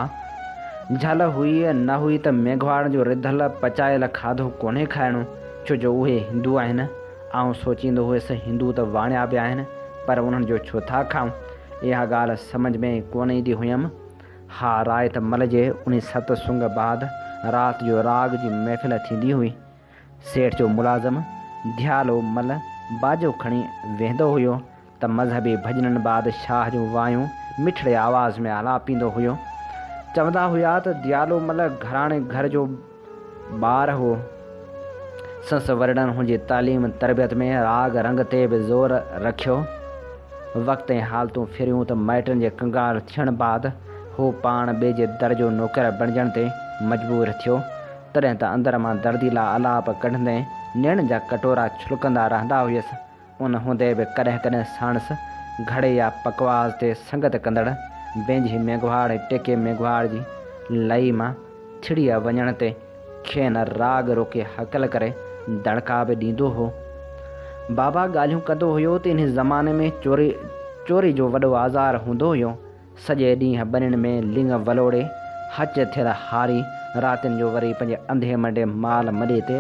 جهل هئي نه هئي ته ميگهواڙن جو رڌل پچايل کاڌو ڪونهي کائڻو ڇو جو اهي هندو آهن. آئون سوچيندو هيس هندو ته واڻيا به آهن پر انهن جو ڇو ٿا کائون. اها ڳالهه سمجهه ۾ ڪونه ايندي هيم. ها رائت مل جي انهي ست سنگ بعد رات جو راڳ جي محفل ٿيندي هئي. سيٺ جو ملازم ديالو مل باجو کڻي ويهندو هيو ته مذهبي ڀڄنن بعد شاهه جون وايون مٺڙي آواز ۾ آلاپيندو هيو. چوندا هيا ته ديالو مل گهراڻي گهر جو ٻار هو. سنس ورڙن هن جي تعليم تربيت ۾ راڳ رنگ تي به زور رکيو. وقت ۽ حالتون ڦريون ته مائٽن جي ڪنگار ٿيڻ بعد هو پاڻ ٻئي جي در جو نوڪر بڻجڻ تي مجبور ٿيو. تڏهن ته اندر مان درديلا آلاپ ڪڍندي نيڻن جا ڪٽورا ڇلڪندا رهندا هيس. ان هوندي به ڪڏهن ڪڏهن ساڻس گهڙي يا پکواز تي سنگت ڪندڙ ويجهي ميگهواڙ ۽ ٽيڪي ميگهواڙ جي لئي مان ڇڙيء وڃڻ تي کين راڳ روڪي هڪل ڪري دڙڪا به ڏيندو هو. بابا ڳالهيون ڪندو هيو ته انهي زماني ۾ چوري چوري جو وڏو آزار هوندو هيو سڄي ڏينهن ٻنين ۾ لڱ ولوڙي، هچ ٿر هاري، راتين جو وري پنهنجي انڌي منڊي مال مڏي تي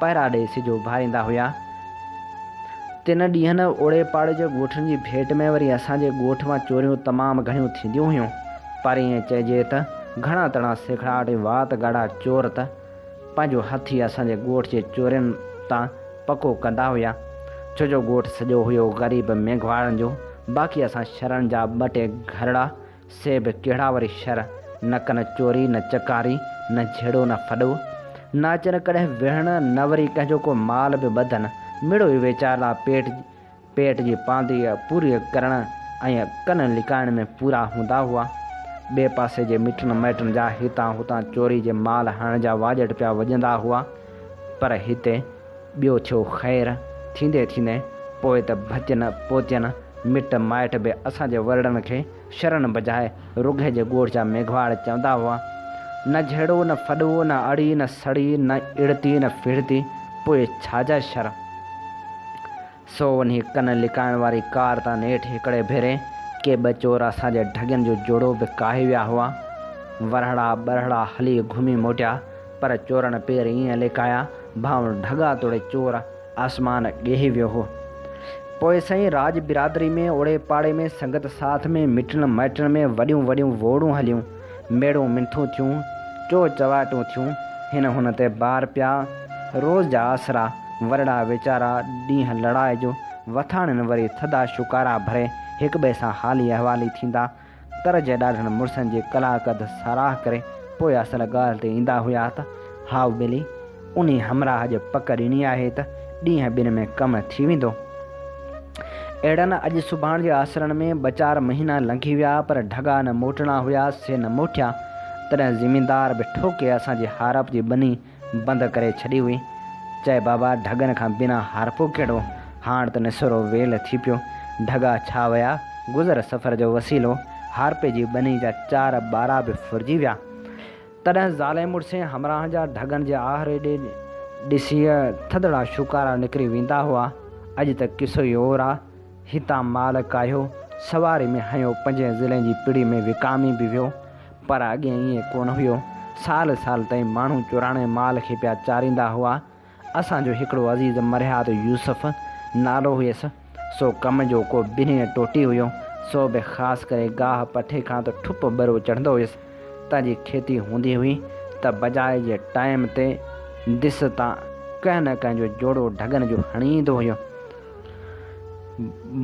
پهرا ڏئي سج اڀاريندا هيا. تن ڏينهن اوڙي پاڙي جي ڳوٺن جي ڀيٽ ۾ وري اسان جي ڳوٺ مان چوريون تمام گهڻيون ٿينديون هيون. پر ائين چئجي ته گهڻا تڻا سيکڙاٽ ۽ وات ڳاڙها چور ته پنهنجو هٿ ئي اسان جي ڳوٺ جي چورين تان پڪو ڪندا هيا، ڇو جو ڳوٺ سڄو هيو غريب مينگهواڙن جو، باقي اسان شھرن جا ٻه ٽي گهرڙا، سي به ڪهڙا وري شھر، نه ڪن چوري، نه چڪاري، نه جھيڙو نه ڦڏو، نه اچن ڪڙهه ويڙهڻ، نه وري ڪنهن جو ڪو مال به ٻڌن، مڙئي ويچار لا پيٽ پيٽ جي پاندي پوري ڪرڻ ۽ ڪن لڪائڻ ۾ پورا هوندا هئا. ٻئي پاسي جي مٽن مائٽن جا هتان هتان چوري جي مال هڻڻ جا واڄٽ پيا وڄندا هئا. پر هتي ٻيو ٿيو خير. ٿيندي ٿيندي پوء ته ڀتين پوتين، مٽ مائٽ به اسان جي ورڙن کي شرن بجاء رگهي جي ڳوٺ جا ميگهواڙ چوندا هئا. نه جهيڙو نه ڦڏو، نه اڙي نه سڙي، نه اڙتي نه ڦڙتي، پوء ڇا جا شر؟ سو وڃي ڪن لڪائڻ واري ڪار تان نيٺ هڪڙي ڀيري ڪي ٻه چور اسان جي ڍڳين جو جوڙو به ڪاهي ويا هئا. ورهڙا ٻرهڙا هلي گهمي موٽيا، پر چورن پير ائين لڪايا ڀانئون ڍڳا توڙي چور آسمان ڳهي ويو هو. پوء سائين راڄ برادري ۾ اوڙي پاڙي ۾ سنگت ساٿ ۾ مٽن مائٽن ۾ وڏيون وڏيون ووڙون هليون. ميڙون منٿون ٿيون، چو چواٽون ٿيون، هن هن تي بار پيا، روز جا آسرا، ورڙا ويچارا، ڏينهن لڙائي جو، وٿاڻين وري ٿڌا شڪارا ڀري هڪٻئي سان حالي احوالي ٿيندا، ڪر جي ڏاڍن مڙسن جي ڪلاڪ اڌ ساراهه ڪري پوء اصل ڳالهه تي ايندا هيا ته هائو ٻيلي! انهي همراهه جي پڪ ڏني آهي ته ڏينهن ٻن ۾ ڪم ٿي ويندو. اهڙن اڄ سڀاڻ جي آسرن ۾ ٻه چار مهينا لنگهي ويا پر ڍڳا نه موٽڻا هيا سي نه موٽيا. تڏهن زميندار به ٺوڪي اسان جي هارپ جي ٻني بند ڪري ڇڏي هئي. چئي بابا ڍڳن کان بنا هارپو ڪهڙو؟ هاڻ ته نسورو ويل ٿي پيو. ڍڳا ڇا ويا؟ گذر سفر جو وسيلو هارپي جي ٻني جا چار ٻارا به ڦرجي ويا. تڏهن زالين مڙسين همراهن جا ڍڳن جي آهري ڏي ڏسي ٿڌڙا شوڪارا نڪري ويندا هئا. اڄ ته قصو ئي اور آ. هتان مال ڪاهيو، سواري ۾ هنيو پنجين ضلعين جي پڙي ۾ وڪامي به ويو. پر اڳي ائين ڪونه هيو. سال سال تائين ماڻهو چوراڻي مال کي پيا چاريندا هئا. اسان جو هڪڙو عزيز مرهيات يوسف نالو هيس، سو ڪم جو ڪو بنهه ٽوٽي هيو، سو به خاص ڪري گاهه پٺي کان ته ٺپ ٻرو چڙهندو هيس، تنهن جي کيتي هوندي هئي ته بجاء جي ٽائيم تي دس تان ڪنهن نه ڪنهن جو جوڙو ڍڳن جو هڻي ايندو هيو.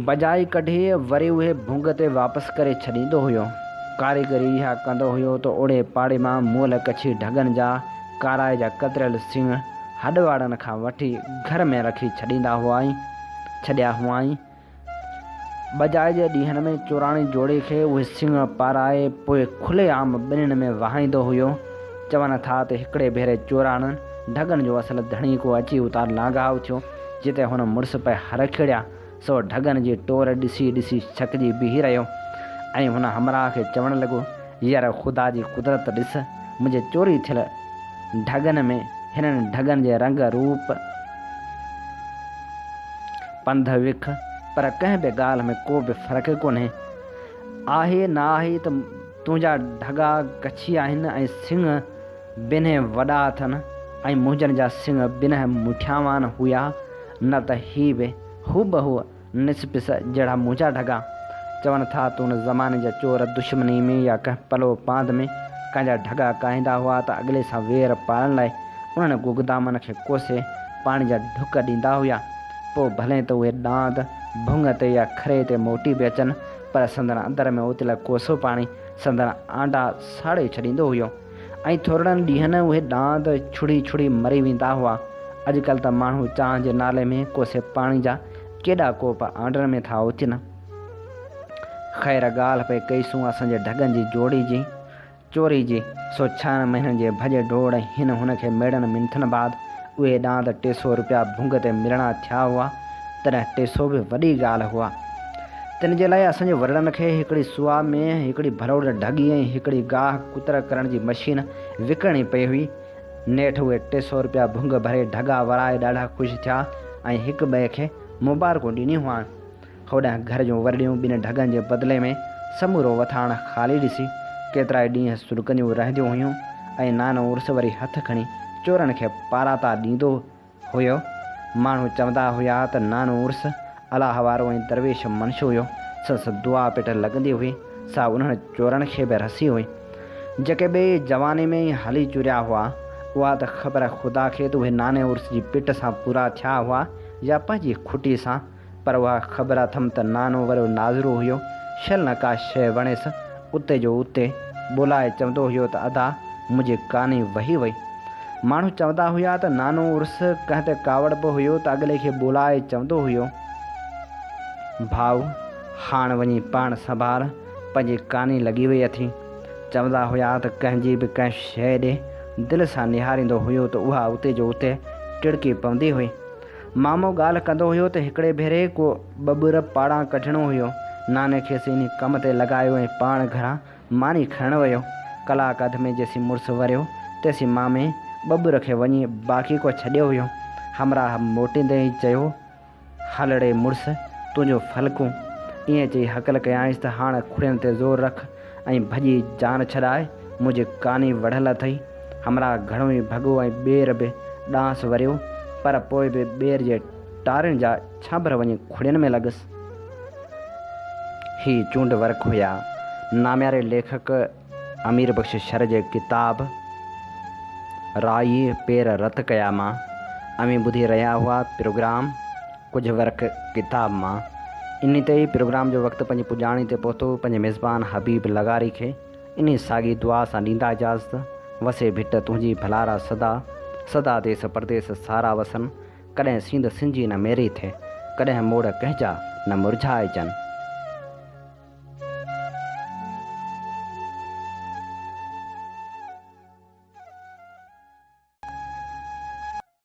بجائي ڪڍي وري اهي ڀونگ تي واپس ڪري ڇڏيندو هيو. ڪاريگري اها ڪندو هيو ته اوڙي پاڙي مان مئل ڪڇي ڍڳن جا ڪارائي جا ڪتريل سيڻ هڏ وارن کان وٺي گهر ۾ رکي ڇڏيندا هئائين ڇڏيا هئائين. بجائي جي ڏينهن ۾ چوراڻي جوڙي کي اهي سيڻ پارائي پوء کلي عام ٻنين ۾ وهائيندو هيو. چون ٿا ته هڪڙي ڀيري چوراڻن ڍڳن جو اصل ڌڻي ڪو اچي اتان لانگهائو ٿيو. جتي هن مڙس پئي هر کيڙيا، سو ڍڳن جي ٽور ڏسي ڏسي ڇڪجي بيهي رهيو ۽ هن همراهه کي چوڻ لڳو، يار خدا جي قدرت ڏس، منهنجي چوري ٿيل ڍڳن ۾ هنن ڍڳن جي رنگ روپ، پنڌ وک، پر ڪنهن به ڳالهه ۾ ڪو به فرق ڪونهي. آهي ناهي ته تنهنجا ڍڳا ڪڇي آهن ۽ سنگهه، بنهه وڏا اٿن ۽ منهنجن جا سڱ بنهه مٺياوان هيا، نه ته هي به هوبهو نسپس جهڙا منهنجا ڍڳا. چون ٿا ته ان زماني جا چور دشمني ۾ يا ڪنهن پلو پاند ۾ ڪنهن جا ڍڳا ڪاهيندا هئا ته اڳلي سان وير پالڻ لاء انهن گگدامن کي ڪوسي پاڻي جا ڍڪ ڏيندا هيا. پوء ڀلين ته اهي ڏاند ڀڱ تي يا کري تي موٽي به اچن پر سندن اندر ۾ اوتيل ڪوسو پاڻي سندن آنڊا ساڙي ڇڏيندو هيو. ۽ ٿورڙن ڏينهن اهي ڏاند ڇڙي ڇڙي مري ويندا هئا. اڄڪلهه ته ماڻهو چانهه جي نالي ۾ ڪوسي پاڻي جا ڪيڏا ڪوپ آنڊڻ ۾ ٿا اوچن. خير ڳالهه پئي ڪئيسون اسان جي ڍڳن جي جوڙي جي، چوري جي، سو ڇهن مهينن جي ڀڄ ڊوڙ ۽ هن هن کي ميڙن منٿن بعد اهي ڏاند ٽي سو روپيا ڀونگ تي ملڻا ٿيا هئا، تڏهن ٽي سو به وڏي ڳالهه هئا. تن جي لاء اسان جي ورڙن کي هڪڙي سوئا ۾ هڪڙي ڀروڙ ڍڳي ۽ هڪڙي گاهه ڪتر ڪرڻ جي مشين وڪڻڻي پئي هئي. نيٺ اهي ٽي سؤ رپيا ڀونگ ڀري ڍڳا ورائي ڏاڍا خوش ٿيا ۽ هڪ ٻئي کي مبارڪون ڏنيون هئائين. هوڏانهن گهر جون ورڙيون ٻن ڍڳن جي بدلي ۾ سمورو وٿاڻ خالي ڏسي ڪيترائي ڏينهن سڏڪنديون رهنديون هيون ۽ نانو عرس وري هٿ کڻي چورن کي پاراتا ڏيندو هيو. ماڻهو چوندا هيا ته نانو عرس الله وارو ۽ درويش منش هيو. سندس دعا پٽ لڳندي هئي، سا انهن چورن کي به رسي هئي. جيڪي ٻئي جواني ۾ ئي هلي چريا هئا، اها ته خبر خدا کي ته اهي ناني عرس جي پٽ سان پورا ٿيا هئا يا پنهنجي کٽي سان. پر اها خبر اٿم ته نانو ورو ناظرو هيو، شل نه ڪا شيء وڻيس، اتي جو اتي ٻولائي چوندو هيو ته ادا منهنجي ڪاني وهي وئي. ماڻهو چوندا هيا ته نانو عرس ڪنهن تي ڪاوڙ به هيو ته اڳلي کي ٻولائي چوندو هيو، ڀاء هاڻ وڃي پاڻ سنڀال، پنهنجي ڪاني لڳي وئي اٿئي. چوندا هيا ته ڪنهن جي به ڪنهن شيء ڏي دل سان نهاريندو هيو ته اها اتي جو اتي ٽڙڪي پوندي هئي. مامو ڳالهه ڪندو هيو ته هڪڙي ڀيري ڪو ٻٻر پاڙان ڪڍڻو هيو. ناني کيس انهي ڪم تي لڳايو ۽ پاڻ گهران ماني کڻڻ ويو. ڪلاڪ اڌ ۾ جيسين مڙس وريو تيسين مامي ٻٻر کي وڃي باقي ڪو ڇڏيو هيو. همراهه موٽيندي ئي چيو، هل ڙي مڙس تنهنجون ڦلڪون. ائين چئي هڪل ڪيائينس ته هاڻ کڙين تي زور رک. ۽ ڀڄي جان ڇڏائي منهنجي ڪاني وڙهل اٿئي. همراهه گهڻو ئي ڀڳو ۽ ٻير به ڏانهس وريو، پر پوء به ٻير جي ٽارين جا ڇانڀر وڃي کڙين ۾ لڳس. هي چونڊ ورق هيا. نامياري ليکڪ امير بخش شر جي ڪتاب رائي پير رت ڪيا مان اوهين ٻڌي رهيا هئا پروگرام. ڪجهه ورق ڪتاب مان انهي تي ئي پروگرام جو وقت پنهنجي پڄاڻي تي پهتو پنهنجي ميزبان حبيب لغاري کي انهي ساڳي دعا سان ڏيندا اجازت وسي ڀٽ تنهنجي ڀلارا سدا سدا ديس پرديس سارا وسن ڪڏهن سينڌ سنجي نه ميري ٿئي ڪڏهن موڙ ڪنهنجا نه مرجهائجن.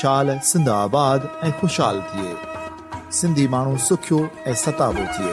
شال سنڌ آباد ۽ خوشحال ٿئي. سنڌي ماڻهو سکيو ۽ ستابو ٿئي.